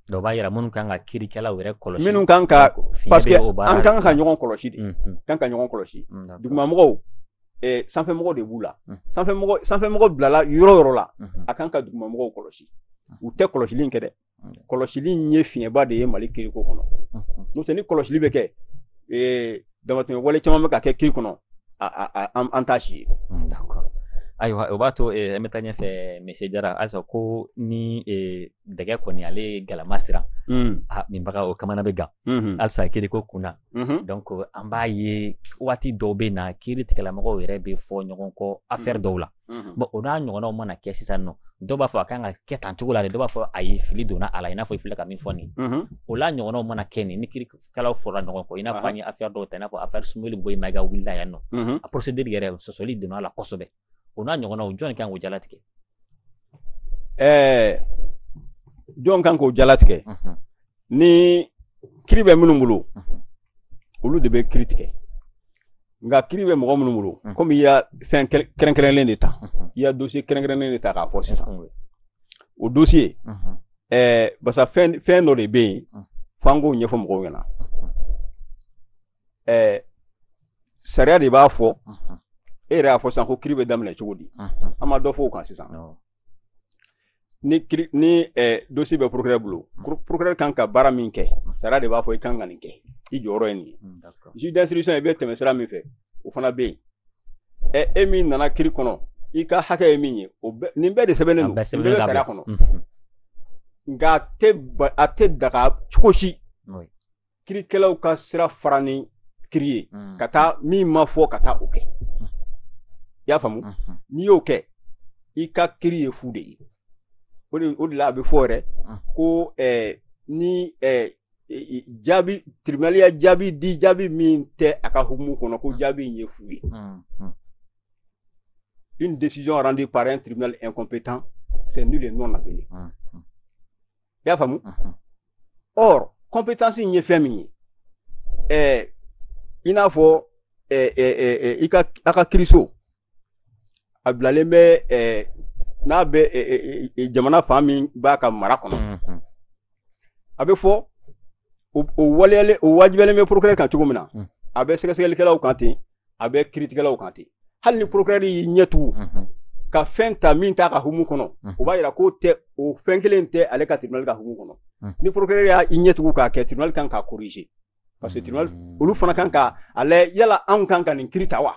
dɔw b'a yira minnu kan ka kirikɛlaw yɛrɛ kɔlɔsi minnu kan ka parce que an kan ka ɲɔgɔn kɔlɔsi de kan ka ɲɔgɔn kɔlɔsi dugumamɔgɔw sanfɛmɔgɔ de b'u la sanfɛmɔgɔ bilala yɔrɔ yɔrɔ la a kan ka dugumamɔgɔw kɔlɔsi u tɛ kɔlɔsili in kɛ dɛ kɔlɔsili in ye fiɲɛba de ye mali kiriko kɔnɔ n'o tɛ ni kɔlɔsili bɛ kɛ damatɛmɛ wale caman bɛ ka kɛ kiri kɔnɔ an t'a si ye hmm, ayiwa o b'a to eh, an bɛ taa ɲɛfɛ monsieur jara halisa ko ni eh, dɛgɛ goniyalen ye galama siran hmm. ah, minbaga o kamana bɛ gan hmm. halisa kiri ko kun na donc an b'a ye waati dɔw bɛ na kiri tigɛlamɔgɔw yɛrɛ bɛ fɔ ɲɔgɔn kɔ affaire dɔw la bon o n'a ɲɔgɔnnaw mana kɛ sisan nɔ dɔw b'a fɔ a kan ka kɛ tan cogo la de dɔw b'a fɔ ayi fili donna a la i n'a fɔ i filɛ ka min fɔ nin o n'a ɲɔgɔnnaw mana kɛ nin ni kiri kɛlaw fɔra ɲɔgɔn kɔ i n'a fɔ an ye affaire dɔw ta i n'a fɔ affaire Sumeyilu Bubɛyi Mayiga wulila yan nɔ a procédure yɛrɛ sɔsɔli donna a la kosɛbɛ o n'a ɲɔgɔnnaw jɔn kan k'o jalatigɛ ɛɛ jɔn kan k'o jalatigɛ ni kiri bɛ minnu bolo olu de bɛ kiri tigɛ nka kiri bɛ mɔgɔ minnu bolo mm. komi i ya fɛn kɛrɛnkɛrɛnlen de ta mm-hmm. i ya dossier kɛrɛnkɛrɛnlen de ta k'a fɔ sisan mm-hmm. o dossier mm-hmm. eh, barisa fɛn fɛn dɔ de bɛ yen mm. f'an k'o ɲɛfɔ mɔgɔw ɲɛna eh, sariya de b'a fɔ e yɛrɛ y'a fɔ sisan ko kiri bɛ daminɛ cogo di an ma dɔ fɔ o kan sisan ni kiri ni ɛɛ eh, dossier bɛ procureur bolo procureur kan ka baara min kɛ sariya de b'a fɔ i kan ka nin kɛ i jɔyɔrɔ ye nin ye mm, juge d'instruction i bɛ tɛmɛ sira min fɛ o fana bɛ yen ɛ eh, e min nana kiri kɔnɔ i ka hakɛ ye min ye o bɛ nin bɛɛ de sɛbɛnnen don nin bɛɛ bɛ sariya kɔnɔ nka a tɛ a tɛ daga cogo si kirikɛlaw ka sira fara ni kiri ye mm. ka taa min ma fɔ ka taa o kɛ mm. i y'a faamu mm-hmm. n'i y'o kɛ i ka kiri ye fu de ye o de o de la a bɛ fɔ yɛrɛ mm. ko eh, ni eh, jaabi tribunal ya jaabi di jaabi min tɛ a ka hukumu kɔnɔ ko jaabi in ye fu ye mm-hmm. une décision rendue par un tribunal incompétent c'est nul et non avenu mm-hmm. i y'a faamu or compétence in ye fɛn min ye ɛɛ i n'a fɔ ɛɛ ɛɛ i ka a ka kiriso a bilalen bɛ ɛɛ n'a bɛ ɛɛ jamana fan min b'a ka mara kɔnɔ a bɛ fɔ o waleyalen o wajibiyalen bɛ procureur kan cogo min na a bɛ sɛgɛsɛgɛlikɛlaw kan ten a bɛ kiritigɛlaw kan ten hali ni procureur y'i ɲɛ tugu mhm. ka fɛn ta min t'a ka hukumu kɔnɔ mhm. o b'a yira k'o tɛ o fɛn kelen tɛ ale ka tribunal ka hukumu kɔnɔ mhm. ni procureur y'a i ɲɛ tugu k'a kɛ tribunal kan k'a corriger parce que tribunal olu fana kan ka a lajɛ yala anw kan ka nin kiri ta wa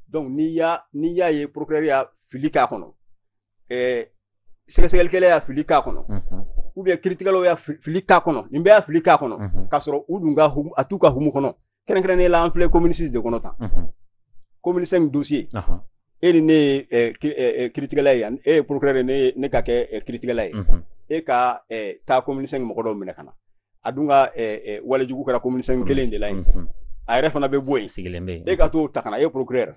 donc n'i y'a n'i y'a ye procureur y'a fili k'a kɔnɔ ɛɛ sɛgɛsɛgɛlikɛla y'a fili k'a kɔnɔ ou bien kiritigɛlaw y'a fili k'a kɔnɔ nin bɛɛ y'a fili k'a kɔnɔ k'a sɔrɔ u dun ka a t'u ka hukumu kɔnɔ kɛrɛnkɛrɛnnen la an filɛ commune six de kɔnɔ tan commune cinq dossier e ni ne ye kiritigɛla ye e ye procureur ye ne ka kɛ kiritigɛla ye e ka taa commune cinq mɔgɔ dɔw minɛ ka na a dun ka walejugu kɛra commune cinq kelen de la yen a yɛrɛ fana bɛ bɔ yen sigilen e ka t'o ta ka na e procureur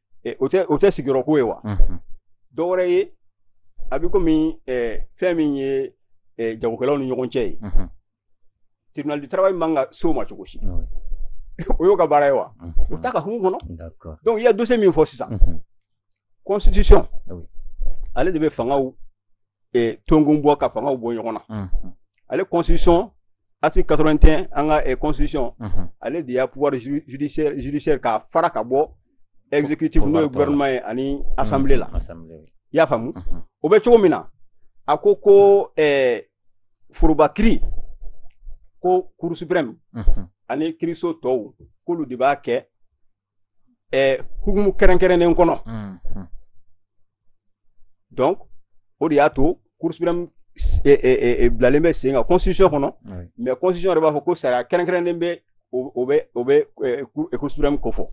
o tɛ o tɛ sigiyɔrɔ ko ye wa dɔ wɛrɛ ye a bɛ komi fɛn min ye jagokɛlaw ni ɲɔgɔn cɛ ye tribunal du travail man ka s'o ma cogo si o y'o ka baara ye wa o t'a ka hukumu kɔnɔ donc i ye dossier min fɔ sisan constitution ale de bɛ fangaw eh, tonkun bɔ ka fangaw bɔ ɲɔgɔn na mhm. ale constitution article 81 an ka eh, constitution mhm. ale de y'a pouvoir judiciaire judiciaire k'a fara ka bɔ exécutif n'o ye gouvernement ye ani assemblée la i y'a faamu o bɛ cogo min na a ko ko eh, foroba kiri ko cour suprême ani kiriso tɔw k'olu de b'a kɛ hukumu kɛrɛnkɛrɛnnen kɔnɔ donc o de y'a to cour suprême bilalen bɛ sen kan constitution kɔnɔ mais constitution yɛrɛ b'a fɔ ko sariya kɛrɛnkɛrɛnnen bɛ o bɛ cour suprême ko fɔ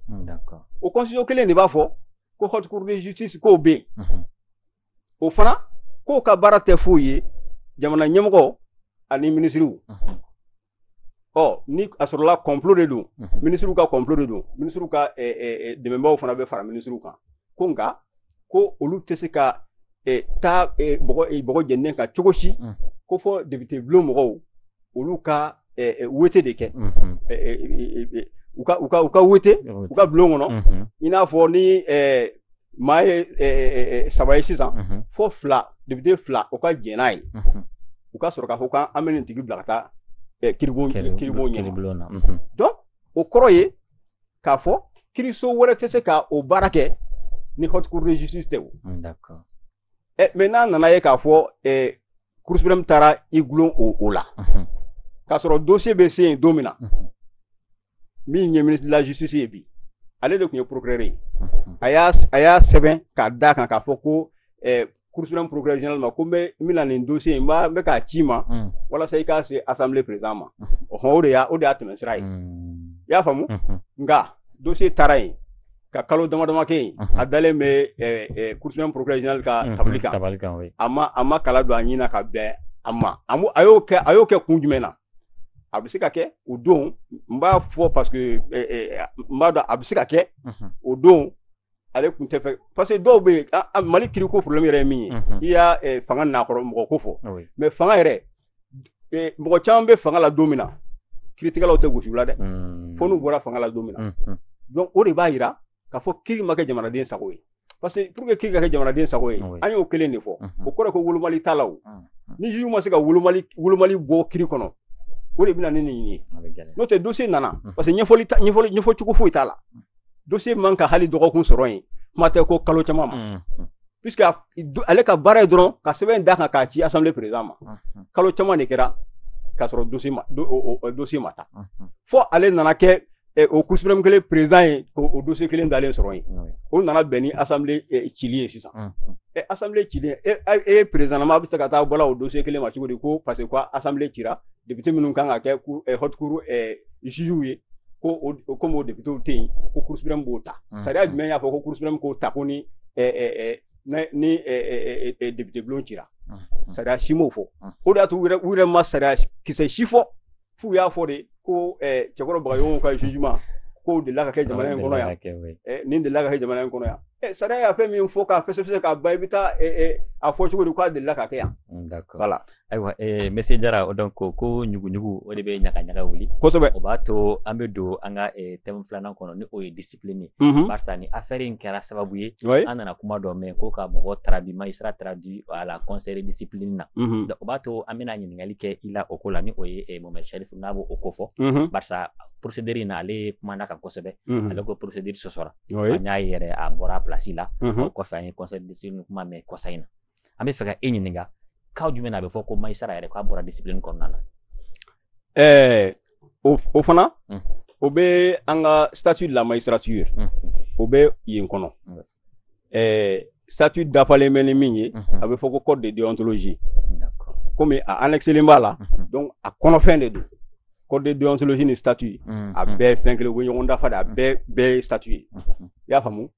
o constitution kelen de b'a fɔ ko haute cour de justice k'o bɛ yen o fana k'o ka baara tɛ foyi ye jamana ɲɛmɔgɔ ani minisiriw ɔ ni a sɔrɔla kɔnplo de don mhm. minisiriw ka kɔnplo de don minisiriw ka eh, eh, eh, dɛmɛbaaw fana bɛ fara minisiriw kan ko nka ko olu tɛ se ka taa bɔgɔ jɛninen kan cogo si mhm. ko fo depite bulon mɔgɔw olu ka wete de kɛ mhm. u ka wete u ka bulon kɔnɔ i n'a fɔ ni maa ye eh, eh, eh, saba ye sisan mhm. fo fila depite fila o ka jɛn n'a ye mhm. u ka sɔrɔ k'a fɔ k'an an bɛ nin tigi bila ka taa kiribon kiribon ɲɛma na mhm. donc o kɔrɔ ye k'a fɔ kiriso wɛrɛ tɛ se ka o baara kɛ ni haute cour de justice tɛ o d'accord ɛ mais n'a nana ye k'a fɔ ɛ cour suprême taara i gulon o o la k'a sɔrɔ dosiye bɛ se yen don min na min ye ministre de la justice ye bi ale de tun ye procureur ye a y'a a y'a sɛbɛn k'a d'a kan k'a fɔ ko ɛ cour suprême procureur général ma ko n bɛ n bɛna nin dosiye in n b'a n bɛ k'a ci i ma walasa i k'a se assemblée président ma o de y'a o de y'a tɛmɛsira ye i y'a faamu nka dosiye taara yen ka kalo damadama kɛ yen a dalen bɛ cour suprême procureur général ka tabali kan tabali kan a ma a ma kala don a ɲin ka bɛn a ma a y'o kɛ a y'o kɛ kun jumɛn na a bɛ se ka kɛ o don n b'a fɔ parce que n b'a dɔn a bɛ se ka kɛ o don ale tun tɛ fɛ parce que dɔw bɛ yen mali kiri ko problème yɛrɛ ye min ye i y'a fanga nakɔrɔ mɔgɔ ko fɔ mais fanga yɛrɛ eh, mɔgɔ caman bɛ fanga la don min na kiritigɛlaw tɛ gosi u la dɛ hmm. fo n'u bɔra fanga la don min na hmm, hmm. donc o de b'a yira k'a fɔ kiri ma kɛ jamanaden sago ye parce que pour que kiri ka kɛ jamanaden sago ye an y'o kelen de fɔ o kɔrɔ ko wolomali t'a la o ni juge ma se ka wolomali wolomali bɔ kiri kɔnɔ o de bɛna ni nin ye n'o tɛ dosiye nana parce que ɲɛfɔli ɲɛfɔli ɲɛfɔ cogo foyi t'a la dossier man ka hali dɔgɔkun sɔrɔ yen kuma tɛ ko kalo caman ma mm-hmm. puisque ale ka baara ye dɔrɔn ka sɛbɛn d'a kan k'a ci assemblée président ma mm-hmm. kalo caman de kɛra k'a sɔrɔ dossier ma dossier ma ta mm-hmm. fo ale nana kɛ eh, o cour suprême kelen président ye k'o dossier kelen dalen sɔrɔ yen o nana bɛn ni assemblée eh, cili ye sisan eh, assemblée cili e ye président ma a bɛ se ka taa bɔla o dossier kelen ma cogo di ko parce que ko assemblée cira depite minnu kan ka kɛ eh, haute cour eh, jugew ye ko komi o depitew tɛ yen ko cour suprême b'o ta mm. sariya jumɛn y'a fɔ ko cour suprême k'o ta ko ni eh, ni depite bulon cira mm, mm. sariya si m'o fɔ o de y'a to u yɛrɛ ma sariya kisɛ si fɔ f'u y'a fɔ de ko cɛkɔrɔ bagayogo ka jugement k'o delila ka kɛ jamana in kɔnɔ yan nin delila ka kɛ jamana in kɔnɔ yan Eh, sariya y'a fɛn min fɔ k'a fɛsɛfɛsɛ k'a ban i bɛ taa eh, eh, a fɔ cogo di k'a delila ka kɛ yan mm, voilà ayiwa eh, monsieur jara o donc ko ɲuguɲugu o de bɛ ɲagaɲaga wuli kosɛbɛ o b'a to an bɛ don an ka eh, thème filanan kɔnɔ ni o ye discipline ye mm -hmm. barisa nin affaire in kɛra sababu ye oui. an nana kuma dɔ mɛn ko ka mɔgɔ traduit magistrat traduit à la conseil discipline na mm -hmm. donc o b'a to an bɛna ɲininkali kɛ i la o ko la ni o ye eh, mohamed chérif n'a b'o o ko fɔ mm -hmm. barisa procédure in na ale kumana kan kosɛbɛ mm -hmm. ale ko procédure sɔsɔra oui. an y'a ye yɛrɛ a bɔra place la mm -hmm. o kɔfɛ an ye conseil discipline kuma mɛn kɔsa in na an bɛ fɛ ka e ɲininka cas jumɛn na a bɛ fɔ ko magistrat yɛrɛ k'a bɔra discipline kɔnɔna na ɛɛ o fana hmm. o bɛ an ka statut de la magistrature hmm. o bɛ yen kɔnɔ hmm. ɛɛ statut dafalen bɛ ni min ye a bɛ fɔ ko code de déontologie komi a annexelen b'a la donc a kɔnɔfɛn de don code de déontologie ni statut a bɛɛ fɛn kelen u bɛ ɲɔgɔn dafa de a bɛɛ bɛɛ ye statut ye i y'a faamu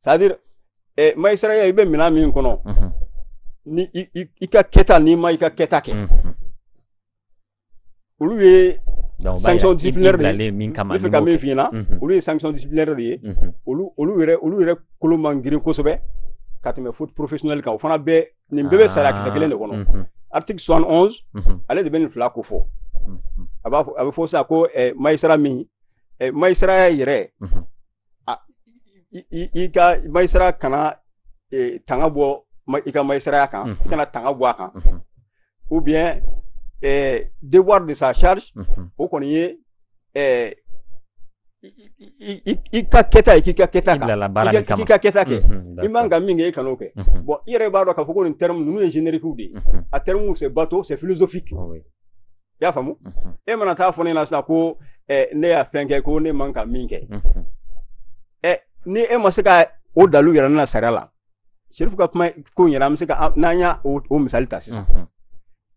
c'est-à-dire eh, magistratya i bɛ minɛ min kɔnɔ ni i ka kɛta n'i ma i ka kɛta kɛ olu ye sanction disciplinaire de ye n bɛ fɛ ka min f'i ɲɛna olu ye sanction disciplinaire de ye olu olu yɛrɛ olu yɛrɛ kolo man girin kosɛbɛ ka tɛmɛ faute professionnelle kan o fana bɛɛ nin bɛɛ bɛ sariya kisɛ kelen de kɔnɔ article soixante onze ale de bɛ nin fila ko fɔ a b'a fɔ a bɛ fɔ sisan ko eh, magistrat min eh, magistratya yɛrɛ i ka magistrat kana e, tanga bɔ i ka magistratya kan mm -hmm. i kana tanga bɔ a kan mm -hmm. ou bien eh, devoir de sa charge mm -hmm. o kɔni ye eh, i ka kɛta ye k'i ka kɛta kan k'i ka kɛta kɛ i man ka min kɛ i kan'o kɛ bon i yɛrɛ b'a dɔn k'a fɔ ko nin terme ninnu ye générique de ye a terme c'est bateau c'est philosophique i y'a faamu e mana taa fɔ ne ɲɛna sisan ko eh, ne y'a fɛn kɛ ko ne man ka min kɛ eh, ni e ma se ka o dalu yira ne na sariya la Cherif ka kuma ko in yɛrɛ an bɛ se ka an- n'an y'a o o misali ta sisan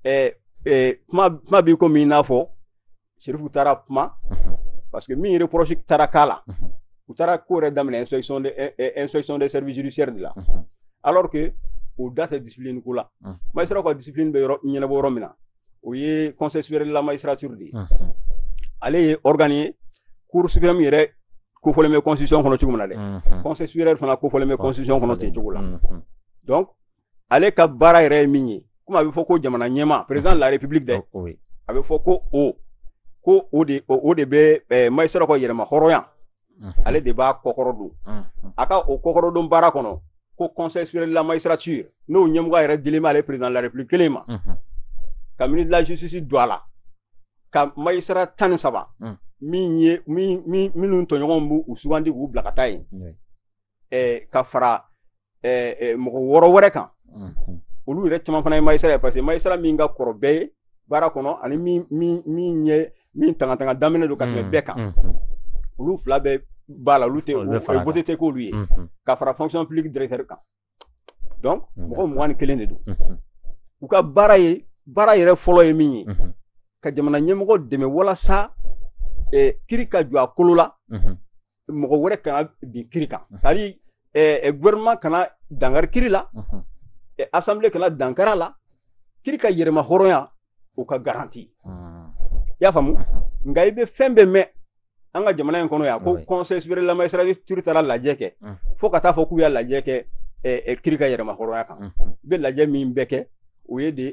eh, eh, kuma kuma b'i ko min i n'a fɔ Cherif taara kuma parce que min reproche taara k'a la u taara ko yɛrɛ daminɛ inspection de eh, eh, inspection des services judiciaires de la alors que o da tɛ discipline ko la Mhm. magistrat ka discipline bɛ yɔrɔ ɲɛnabɔ yɔrɔ min na o ye conseil supérieur de la magistrature de ye unhun ale ye organe ye cour suprême yɛrɛ kofɔlen bɛ constitution kɔnɔ cogo min na dɛ unhun conseil supérieur fana kofɔlen bɛ constitution kɔnɔ ten cogo la unhun donc ale ka baara yɛrɛ ye min ye komi a bɛ fɔ ko jamana ɲɛmaa président de la république dɛ o ye a bɛ fɔ ko o ko o de o o de bɛ ɛɛ magistrat ka yɛrɛma hɔrɔnya ale de b'a kɔkɔrɔ don a ka o kɔkɔrɔ don baara kɔnɔ ko conseil supérieur de la magistrature n'o ɲɛmɔgɔya yɛrɛ dilen b'ale président de la république kelen ma ka ministre de la justice don a la ka magistrat tan ni saba min ye minnu tɔɲɔgɔnw b'u u sugandi k'u bila ka taa yen eh, ka fara eh, eh, mɔgɔ wɔɔrɔ wɛrɛ kan olu yɛrɛ caman fana ye magistrat ye parce que magistrat min ka kɔrɔ bɛɛ ye baara kɔnɔ ani min min min ɲɛ min tanga tanga daminɛ don ka tɛmɛ bɛɛ kan olu fila bɛɛ b'a la olu tɛ voté tɛ k'olu ye ka fara fonction publique directeur kan donc mɔgɔ mugan ni kelen de don u ka baara ye baara yɛrɛ fɔlɔ ye min ye ka jamana ɲɛmɔgɔ dɛmɛ walasa kiri ka jɔ a kolo la mɔgɔ wɛrɛ kana bin kiri kan c'est à dire eh, gouvernement kana dankari kiri la eh, assemblée kana dankari a la kiri ka yɛrɛma hɔrɔnya o ka garanti i y'a faamu nka i bɛ fɛn bɛɛ mɛn an ka jamana in kɔnɔ yan ko conseil supérieur de la magistrature taara lajɛ kɛ fo ka taa fɔ k'u y'a lajɛ kɛ kiri ka yɛrɛma hɔrɔnya kan i bɛ lajɛ min bɛɛ kɛ o ye de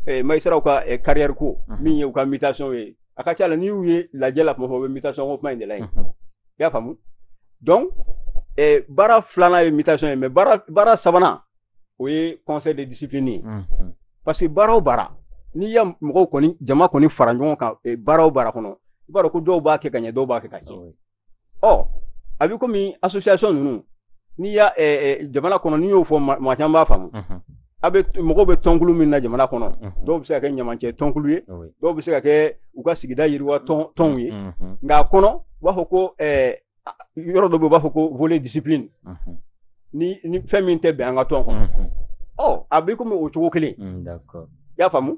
eh, magistrat ka eh, carrière ko mm -hmm. min ye u ka mutation ye a ka ca la n'i y'u ye lajɛ la kuma fɔ u bɛ mutation ko kuma in de la yen mm -hmm. i y'a faamu donc eh, baara filanan ye mutation ye mais baara baara sabanan o ye conseil de discipline ye mm -hmm. parce que baara o baara n'i y'a mɔgɔw kɔni jama kɔni fara ɲɔgɔn kan eh, baara o baara kɔnɔ i b'a dɔn ko dɔw b'a kɛ ka ɲɛ dɔw b'a kɛ ka tiɲɛ ɔ a bɛ komi association ninnu n'i y'a ɛ ɛ jamana kɔnɔ n'i y'o fɔ maa caman b'a faamu a bɛ mɔgɔw bɛ tɔnkulu min na jamana kɔnɔ dɔw bɛ se ka kɛ ɲamancɛ tɔnkulu ye dɔw bɛ se ka kɛ u ka sigida yiriwa tɔnw ye nka a kɔnɔ u b'a fɔ ko ɛ yɔrɔ dɔ bɛ u b'a fɔ ko volet discipline ni ni fɛn min tɛ bɛn an ka tɔn kɔnɔ ɔ a bɛ komi o cogo kelen i y'a faamu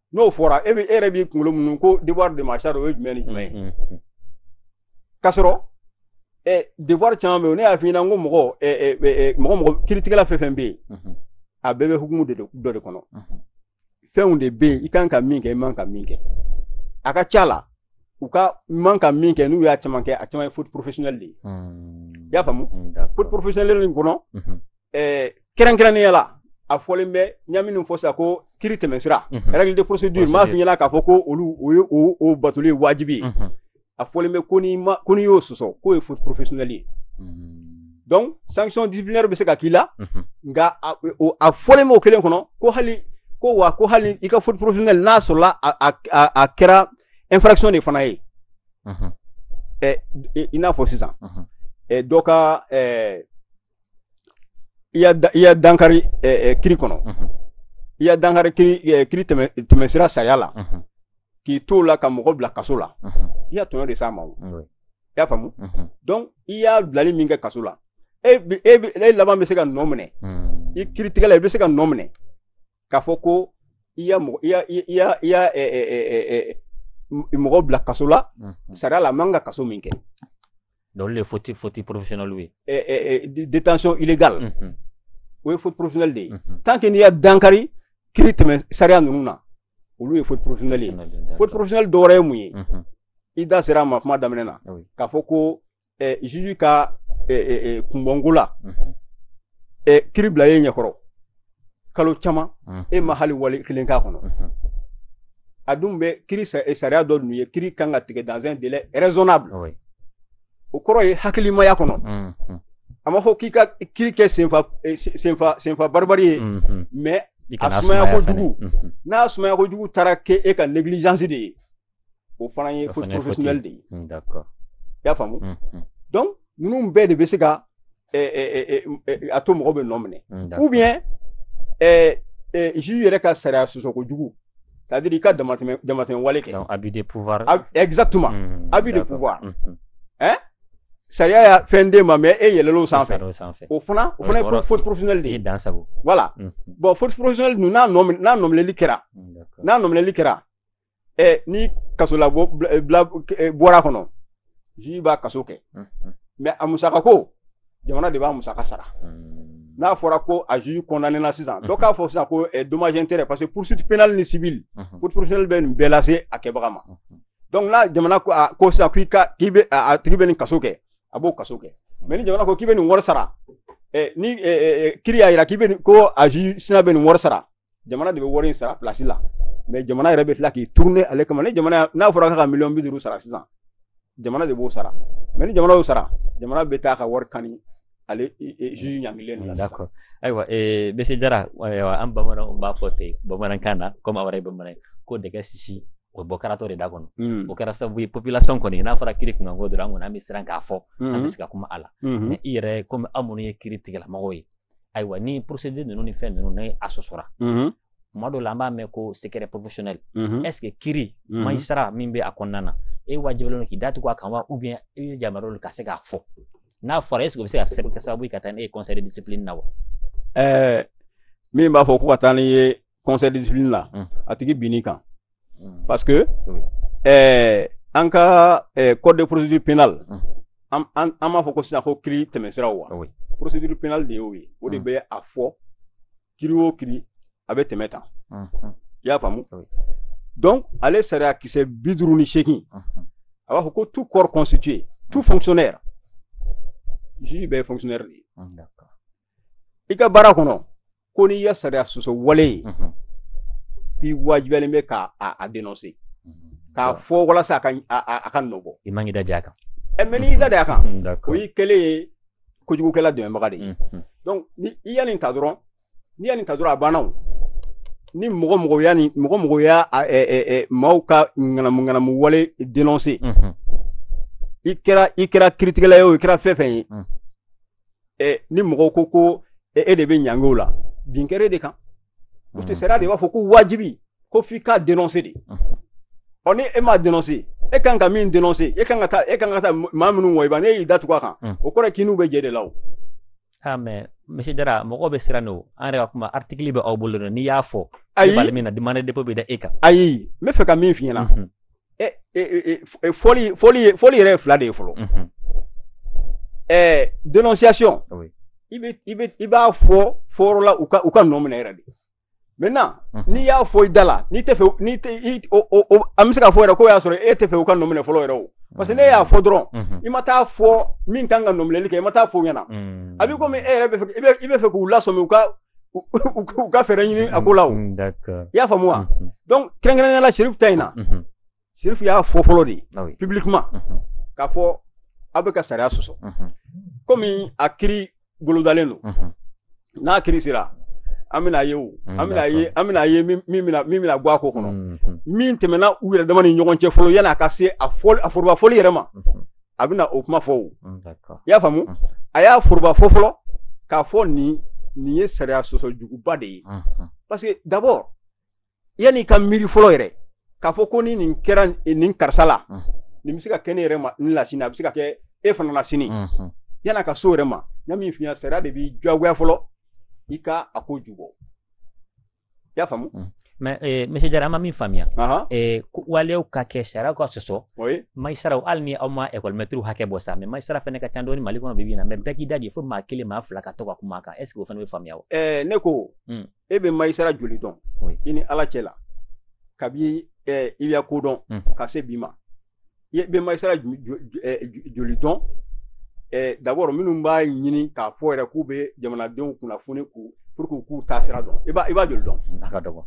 n'o fɔra e bɛ e yɛrɛ b'i kunkolo munu ko devoir de ma charge o ye jumɛn ni jumɛn ye k'a sɔrɔ devoir caman bɛ yen ne y'a f'i ɲɛna n ko mɔgɔ mɔgɔ mɔgɔ kiritigɛla fɛn fɛn bɛ yen a bɛɛ bɛ hukumu de dɔ de kɔnɔ fɛnw de bɛ yen i kan ka min kɛ i man ka min kɛ a ka ca la u ka man ka min kɛ n'u y'a caman kɛ a caman ye faute professionnelle de ye i y'a faamu faute professionnelle nin kɔnɔ eh, kɛrɛnkɛrɛnnenya la a fɔlen bɛ n y'a minnu fɔ sisan ko kiri tɛmɛsira règle de procédure m'a f'i ɲɛna k'a fɔ ko olu o ye o batoli ye wajibi ye a fɔlen bɛ ko n'i ma ko n'i y'o sɔsɔ k'o ye faute professionnelle ye donc sanction disciplinaire bɛ se ka k'i la nka a fɔlen b'o kelen kɔnɔ ko hali ko wa ko hali i ka faute professionnelle n'a sɔrɔla a kɛra infraction de fana ye i n'a fɔ sisan dɔ ka i y'a da- i y'a dankari eh, eh, kiri kɔnɔ Mhm. i y'a dankari kiri eh, kiri tɛmɛ tɛmɛsira sariya la Mhm. k'i to o la ka mɔgɔ bila kaso la Mhm. i y'a tɔɲɔ de s'a ma o Oui. i y'a faamu Mhm. donc i y'a bilali min kɛ kaso la e bi- e bi- e laban bɛ se ka nɔ minɛ Mhm. i kiritigɛla i bɛ se ka nɔ minɛ k'a fɔ ko i y'a mɔgɔ i y'a i y'a i y'a ɛ ɛ ɛ ɛ ɛ mɔgɔ bila kaso la mhm. sariya la a man ka kaso min kɛ. donc olu de ye faute faute professionnelle ye. ɛ ɛ ɛ détention illégale. Mhm. o ye faute professionnelle de ye. Mhm. tant que n'i y'a dankari kiri tɛmɛ sariya ninnu na olu ye faute professionnelle ye faute professionnelle dɔ wɛrɛ ye mun ye. i da sera a ma kuma daminɛ na k'a fɔ ko. eh, juge ka eh, eh, eh kunbɔnko la mhm. eh, kiri bilal'e ɲɛkɔrɔ kalo caman mhm. e ma hali wale kelen k'a kɔnɔ mhm. a dun bɛ kiri eh, sariya dɔ dun ye kiri kan ka tigɛ dans un délai raisonnable oui. o kɔrɔ ye hakilimaya kɔnɔ mm -hmm. a ma fɔ k'i ka kiri kɛ senfa eh, senfa senfa baribari ye mm -hmm. mais a sumaya kojugu n'a sumaya kojugu taara kɛ e ka négligence de ye o fana ye faute professionnelle de ye hmm, d'accord i y'a faamu hmm, hmm. donc ninnu bɛɛ de bɛ se ka eh, eh, eh, a to mɔgɔ bɛ nɔ minɛ ou bien juge yɛrɛ ka sariya sɔsɔ kojugu c'est à dire i ka damatɛmɛ damatɛmɛ wale kɛ abus de pouvoir exactement abus de pouvoir hein sariya y'a fɛn d'e ma mais e yɛlɛl'o sanfɛ o fana o fana ye faute professionnelle de ye voilà bon faute professionnelle ninnu n'a nɔ n'a nɔminɛli kɛra n'a nɔminɛli kɛra ɛ ni kasolabila bɔr'a kɔnɔ juge b'a kaso kɛ mais a musaka ko jamana de b'a musaka sara n'a fɔra ko a juge condamné na sisan dɔ k'a fɔ sisan ko dommage intérêt parce que poursuite pénale ni civile faute professionnelle bɛ nin bɛɛ lase a kɛbaga ma donc n'a jamana ko a ko sisan k'i ka k'i bɛ a tigi bɛ nin kaso kɛ a b'o kaso kɛ mais ni jamana ko k'i bɛ nin wari sara ni kiri y'a jira k'i bɛ ko a juge sina bɛ nin wari sara jamana de bɛ wari in sara pilasi la mɛ jamana yɛrɛ bɛ tila k'i turune ale kama ni jamana n'a fɔra k'a ka miliyɔn bi duuru sara sisan jamana de b'o sara mɛ ni jamana y'o sara jamana bɛ taa ka wari kani ale juge ɲangilen de la sisan d'accord ayiwa ee monsieur Jara ayiwa an bamananw b'a fɔ ten bamanankan na komi aw yɛrɛ ye bamanan ye ko dɛgɛ sisi o bɔ karatɔ de da kɔnɔ Mm, o kɛra sababu ye population kɔni n'a fɔra kiri kunkanko dɔrɔn an kɔni an bɛ siran k'a fɔ an bɛ mhm, se ka kuma a la mhm. mɛ i yɛrɛ komi aw minnu ye kiritigɛlamɔgɔw ye ayiwa ni procédure ninnu ni fɛn ninnu ni a sɔsɔra tuma dɔw la an b'a mɛn ko secret professionnel est ce que kiri magistrat min bɛ a kɔnɔna na e wajibiyalen don k'i datugu a kan wa ou bien i bɛ yamaruyalen ka se k'a fɔ n'a fɔra est ce que o bɛ se ka kɛ sababu ye ka taa n'e ye conseil de discipline na wa. ɛɛ min b'a fɔ ko ka taa n'i ye conseil de discipline la mm. a tigi bin'i kan mm. parce que oui. eh, an ka eh, code de procédure pénale mm. an, an, an b'a fɔ ko sisan ko kiri tɛmɛsiraw wa oui. procédure pénale de y'o ye o de mm. bɛ a fɔ kiri o kiri a bɛ tɛmɛ tan mm -hmm. i y'a faamu oui. donc ale sariya kisɛ bi duuru ni seegin mm -hmm. a b'a fɔ ko tout corps constitué tout mm -hmm. fonctionnaire juge bɛɛ ye fonctionnaire de ye mm -hmm. i ka baara kɔnɔ ko n'i ya sariya sɔsɔ wale ye k'i wajibiyalen bɛ k'a a denonse k'a fɔ walasa a ka a ka nɔbɔ i man k'i da a kan ɛ mɛ n'i y'i da a kan o y'i kɛlen ye kojugukɛla dɛmɛbaga de ye donc ni i ya nin ta dɔrɔn n'i ya nin ta dɔrɔn a banna o ni mɔgɔ mɔgɔ y'a ni mɔgɔ mɔgɔ ya maaw ka ŋanamu ŋanamu wale denonse i kɛra i kɛra kiritigɛla ye o i kɛra fɛn fɛn ye ɛ ni mɔgɔw ko ko e de bɛ ɲangi o la bin kɛra e de kan o tɛ sariya de b'a fɔ ko wajibi ko f'i k'a denonse de ɔ ni e m'a denonse e kan ka min denonse e kan ka taa e kan ka taa maa minnu wɔyiba n'e y'i datugu a kan o kɔrɔ k'i n'u bɛ jɛ de la o ah mais monsieur Jara mɔgɔ bɛ siran o an yɛrɛ ka kuma article bɛ aw bolo dɛ n'i y'a fɔ ayi min na de mandat dépôt bɛ da e kan ayi n bɛ fɛ ka min f'i ɲɛna fɔli yɛrɛ ye fila de ye fɔlɔ ɛɛ dénonciation i bɛ i bɛ i b'a fɔ fɔyɔrɔ la u ka u ka nɔ minɛ yɛrɛ de maintenant n'i y'a fɔ i da la n'i tɛ fɛ n'i tɛ i o o an bɛ se k'a fɔ yɛrɛ k'o y'a sɔrɔ e tɛ fɛ u ka nɔ minɛ fɔlɔ yɛrɛ o parce que n'e y'a fɔ dɔrɔn i ma taa fɔ min kan ka nɔ minɛli kɛ i ma taa fɔ ɲɛna a b'i komi e yɛrɛ bɛ fɛ i bɛ fɛ k'u lasɔmi u ka u ka fɛɛrɛ ɲini a ko la o mm, i y'a faamu wa mm-hmm. donc kɛrɛnkɛrɛnnenya la Chérif ta in na mm-hmm. Chérif y'a fɔ fɔlɔ de ah publiquement mm-hmm. k'a fɔ aw bɛ ka sariya sɔsɔ komi a kiri bolodalen don n'a kiri sera an bɛna ye o mm, an bɛna ye an bɛna ye min bɛna min bɛna bɔ a ko kɔnɔ min tɛmɛna u yɛrɛ dama ni ɲɔgɔn cɛ fɔlɔ yan'a ka se a fɔ a foroba fɔli yɛrɛ ma a bɛna o kuma fɔ o mm, i y'a faamu mm. a y'a foroba fɔ fɔlɔ k'a fɔ nin nin ye sariya sɔsɔ juguba de ye mm-hmm. parce que d'abord yanni i ka miiri fɔlɔ yɛrɛ k'a fɔ ko ni nin kɛra nin karisa la mm. nin bɛ se ka kɛ ne yɛrɛ ma n la sini a bɛ se ka kɛ e fana la sini mm-hmm. yann'a ka s'o yɛrɛ ma n ye min f'i ɲɛna sariya de b'i diyagoya fɔlɔ i ka a ko jubɔ i y'a faamu mm. mais eh, monsieur jara an ma min faamuya eh, waleyaw ka kɛ sariya ka sɔsɔ majisaraw hali ni aw ma ekɔlimɛtiriw hakɛ bɔ sa mais majisara fɛnɛ ka ca dɔɔni mali kɔnɔ bibi in na mais bɛɛ k'i da de fo maa kelen maa fila ka to ka kuma kan est ce que o fɛnɛ bɛ faamuya wa eh, ne ko mm. e bɛ majisara joli dɔn i ni ala cɛ la kabi eh, i bɛ ko dɔn mm. ka se bi ma i bɛ majisara joli dɔn d'abord minnu b'a ɲini k'a fɔ yɛrɛ k'u bɛ jamanadenw kunnafoni k'u pour que k'u taa sira dɔn i b'a i b'a joli dɔn a ka dɔgɔ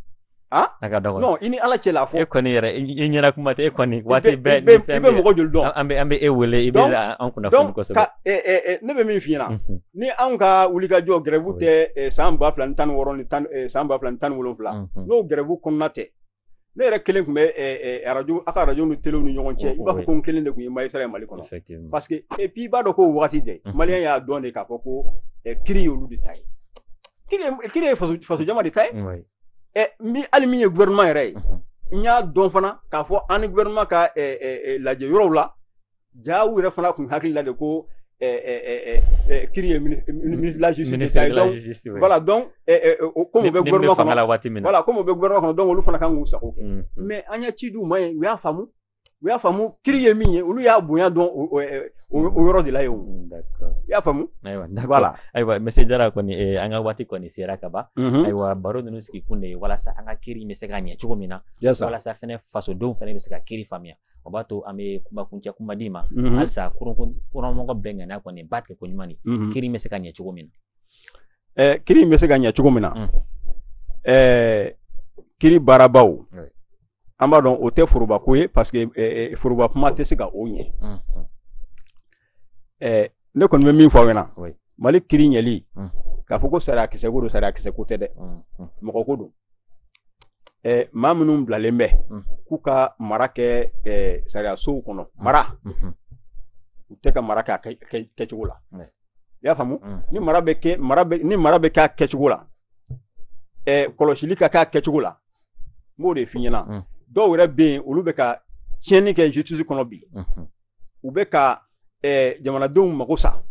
a ka dɔgɔ non i ni ala cɛ la fɔ e kɔni yɛrɛ i ɲɛna kuma tɛ e kɔni waati bɛɛ ni fɛn i bɛ mɔgɔ joli dɔn an bɛ an bɛ e wele i bɛ an kunnafoni kosɛbɛ ne bɛ min f'i ɲɛna ni anw ka wulikajɔ gɛrɛbu tɛ san ba fila ni tan ni wɔɔrɔ ni tan san ba fila ni tan ni wolonwula n'o gɛrɛbu kɔnɔna tɛ ne yɛrɛ kelen tun bɛ arajo aw ka arajo ni telew ni ɲɔgɔn cɛ i b'a fɔ ko n kelen de tun ye majisara ye mali kɔnɔ parce que et puis i b'a dɔn k'o waati de maliyɛn y'a dɔn de k'a fɔ ko kiri ye olu de ta ye kiri ye faso jama de ta ye min hali min ye gouvernement yɛrɛ ye n y'a dɔn fana k'a fɔ an ni gouvernement ka lajɛ yɔrɔw la ja u yɛrɛ fana tun hakili la de ko kiri ye voilà donc komi u bɛ gouvernement fanga la waati min voilà komi u bɛ gouvernement kɔnɔ donc olu fana ka kan k'u sago kɛ mais an ye ci di u ma ye u y'a faamu u y'a faamu kiri ye min ye olu y'a bonya dɔn o yɔrɔ de la yen i y'a faamu ayiwa ayiwa monsieur jara kɔni an ka waati kɔni sera ka ban ayiwa baro ninnu sigi kun de ye walasa an ka kiri bɛ se ka ɲɛ cogo min na walasa fana fasodenw fana bɛ se ka kiri faamuya o b'a to an bɛ kumakuncɛ kuma d'i ma mhm. halisa kɔrɔmɔgɔ bɛɛ ŋaniya kɔni b'a tigɛ ko ɲuman de mhm. kiri bɛ se ka ɲɛ cogo min na eh, kiri bɛ se ka ɲɛ cogo min na mm. eh, kiri baarabaw an b'a dɔn o tɛ foroba ko ye parce que eh, foroba kuma tɛ se ka o ɲɛ mm, mm. ɛɛ ne kɔni bɛ min fɔ aw ɲɛna mali kiri ɲɛli k'a fɔ ko sariya kisɛ ko don sariya kisɛ ko tɛ dɛ mɔgɔ ko don ɛɛ maa minnu bilalen bɛ k'u ka mara kɛ ɛɛ sariyasow kɔnɔ mara u tɛ ka mara kɛ a kɛcogo la i y'a faamu ni mara bɛ kɛ mara bɛ ni mara bɛ kɛ a kɛcogo la ɛɛ kɔlɔsili ka kɛ a kɛcogo la n b'o de f'i ɲɛna dɔw yɛrɛ bɛ yen olu bɛ ka tiɲɛni kɛ justice kɔnɔ bi u bɛ ka eh, jamanadenw mago sa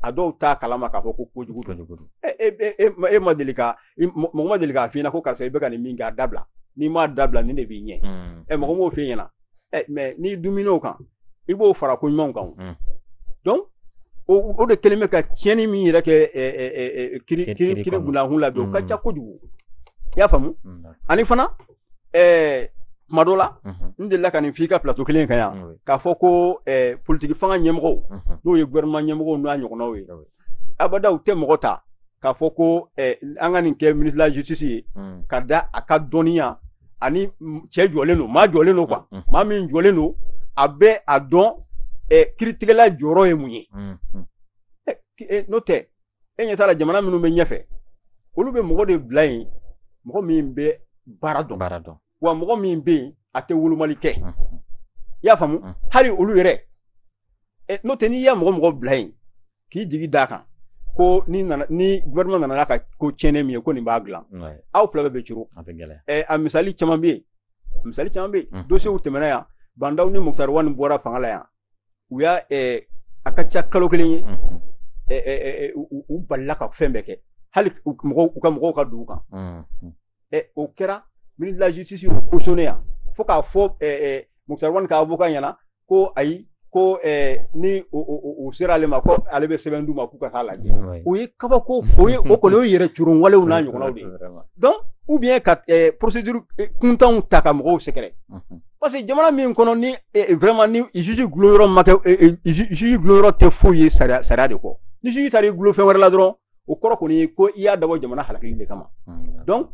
a dɔw t'a kalama k'a fɔ ko kojugu don e, e, e, e ma deli ka mɔgɔ ma deli k'a f'i ɲɛna ko karisa i bɛ ka nin min kɛ a dabila n'i m'a dabila nin de b'i ɲɛ hmm. ɛ mɔgɔ m'o f'i ɲɛna ɛ mais n'i dumin'o kan i b'o fara ko ɲumanw kan hmm. donc o de kelen bɛ ka tiɲɛni min yɛrɛ kɛ kiri kiri kiri bundankun na bi o ka hmm. ca kojugu i y'a faamu ani fana ɛɛ tuma dɔ la n delila ka nin f'i ka plateau kelen kan yan k'a fɔ ko ɛɛ politiki fanga ɲɛmɔgɔw n'o ye gouvernement ɲɛmɔgɔw n'a ɲɔgɔnnaw ye abada u tɛ mɔgɔ ta k'a fɔ ko ɛɛ an ka nin kɛ ministre de la justice ye ka da a ka dɔnniya ani cɛ jɔlen don maa jɔlen don quoi maa min jɔlen don a bɛ a dɔn ɛɛ kiritigɛla jɔyɔrɔ ye mun ye n'o tɛ e ɲɛ t'a la jamana minnu bɛ ɲɛfɛ olu bɛ mɔgɔ de bila yen mɔgɔ min bɛ baara dɔn baara dɔn wa mɔgɔ min bɛ yen a tɛ wolomali kɛ i y'a faamu hali olu yɛrɛ n'o tɛ n'i y'a mɔgɔ mɔgɔ bila yen k'i jigi d'a kan ko ni nana ni gouvernement nana n'a ka ko tiɲɛnen min ye ko nin b'a dilan aw fila bɛɛ bɛ curun a misali caman bɛ yen misali caman bɛ yen dossiers tɛmɛna yan Bah N'Daw ni Moctar Ouane bɔra fanga la yan u y'a a ka ca kalo kelen ye u balila ka fɛn bɛɛ kɛ hali u ka mɔgɔw ka don u kan o kɛra ministre de la justice y'o cautionner yan fo k'a fɔ Moctar Ouane ka avocat ɲɛna ko ayi ko ni u sera ale ma ko ale bɛ sɛbɛn d'u ma k'u ka taa lajɛ o ye kabako o ye o kɔni o yɛrɛ curun walew n'a ɲɔgɔnnaw de ye donc ou bien ka procédure kuntanw ta ka mɔgɔw sɛgɛrɛ parce que jamana min kɔnɔ ni eh, eh, vraiment ni juge dulon yɔrɔ ma kɛ eh, juge dulon yɔrɔ tɛ foyi ye sariya sariya de kɔ ni juge taara i dulon fɛn wɛrɛ la dɔrɔn o kɔrɔ kɔni ye ko i y'a dabɔ jamana halakili de kama hmm. donc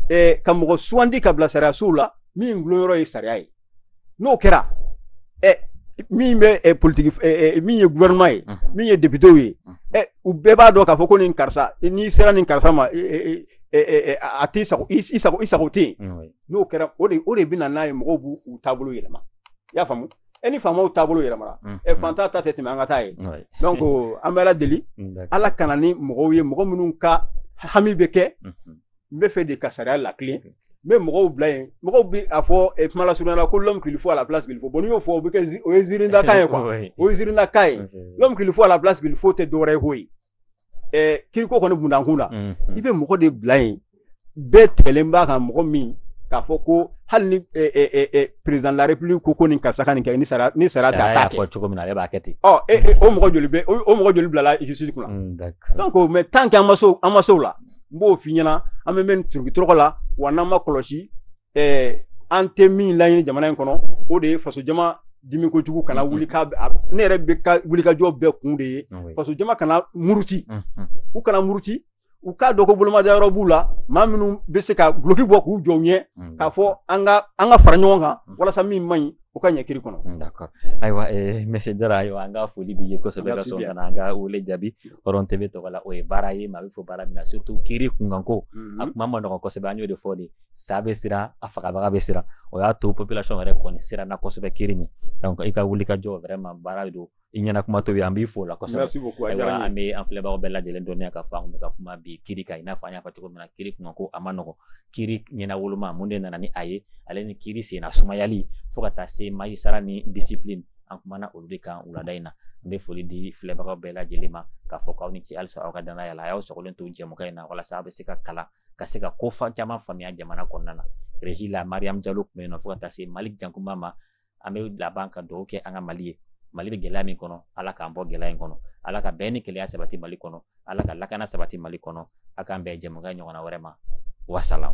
ka mɔgɔ sugandi ka bila sariya sow la min dulon yɔrɔ ye sariya ye n'o kɛra min bɛ politiki min ye gouvernement ye hmm. min ye députés ye hmm. u bɛɛ b'a dɔn k'a fɔ ko nin karisa n'i sera nin karisa ma a t'i sago i sago i sago tɛ yen n'o kɛra o de o de bɛ na n'a ye mɔgɔw b'u u taabolo yɛlɛma i y'a faamu e ni faamaw taabolo yɛlɛmara mm, ɛ mm. fantan ta tɛ tɛmɛ an ka taa ye Ouais. donc an bɛ ala deli Mm, d'accord. ala ka na ni mɔgɔw ye mɔgɔ minnu ka hami bɛ kɛ Mhm. n bɛ fɛ de ka sariya latilen n bɛ mɔgɔw bila yen mɔgɔw bɛ a fɔ eh, kuma lasurunya la ko l'homme qu'il faut à la place qu'il faut bon n'i y'o fɔ o bɛ kɛ zi- o ye ziirindakan ye quoi Ouais. o ye ziirindakan ye Ouais. l'homme qu'il faut à la place qu'il faut tɛ dɔwɛrɛ ye koyi kiriko kɔni bundankun na i bɛ mɔgɔ de bila yen bɛɛ tigɛlen b'a kan mɔgɔ min k'a fɔ ko hali ni président de la république ko nin karisa ka nin kɛ ni sariya ni sariya t'a fɔ cogo min na b'a kɛ ten o mɔgɔ o mɔgɔ joli bilala justice kunna donc mais tant que an ma se o la n b'o f'i ɲɛna an bɛ mɛn turukitɔrɔkɔ la wa n'an ma kɔlɔsi ɛɛ an tɛ min laɲini jamana in kɔnɔ o de ye faso jama dimi kojugu kana mm-hmm. wuli ka ne yɛrɛ bɛ ka wulikajɔ bɛɛ kun de ye ah faso jama kana muruti mm-hmm. u kana muruti u k'a dɔn ko bolomada yɔrɔ b'u la maa minnu bɛ se ka duloki bɔ k'u jɔ u ɲɛ mm-hmm. k'a fɔ an ka an ka fara ɲɔgɔn kan walasa min man ɲi o ka ɲɛ kiri kɔnɔ mm, d'accord ayiwa eh, monsieur jara ayiwa an ka foli b'i ye kosɛbɛ ka sɔn ka na an ka wele jaabi hɔrɔn TV tɔgɔ la o ye baara ye maa bɛ fo baara min na surtout kiri kunkanko a kuma man nɔgɔn kosɛbɛ an y'o de fɔ de sa bɛ siran a fagabaga bɛ siran o y'a to population yɛrɛ kɔni siranna kosɛbɛ kiri min donc i ka wulikajɔ vraiment baara don i ɲɛna kuma tobi an b'i fo la kosɛbɛ merci beaucoup a diyara an bɛ an filɛbagaw bɛɛ lajɛlen dɔnniya k'a fɔ an bɛ ka kuma bi kiri kan i n'a fɔ an y'a fɔ cogo min na kiri kunkanko a man nɔgɔn kiri ɲɛnawoloma mun de nana ni a ye ale ni kiri senna sumayali fo ka taa se magistrat ni discipline an kumana olu de kan wulada in na n bɛ foli di filɛbagaw bɛɛ lajɛlen ma k'a fɔ k'aw ni ce halisa aw ka danaya la a y'aw sɔgɔlen to jɛmukan in na walasa aw bɛ se ka kalan ka se ka ko caman faamuya jamana kɔnɔna na régie la mariam jalo tun bɛ yen nɔ fo ka taa se malik jankunba ma an bɛ laban ka dugawu kɛ an ka mali ye mali bɛ gɛlɛya min kɔnɔ ala k'an bɔ gɛlɛya in kɔnɔ ala ka bɛn ni kelenya sabati mali kɔnɔ ala ka lakana sabati mali kɔnɔ a k'an bɛn jɛmukan ɲɔgɔnna wɛrɛ ma wasalam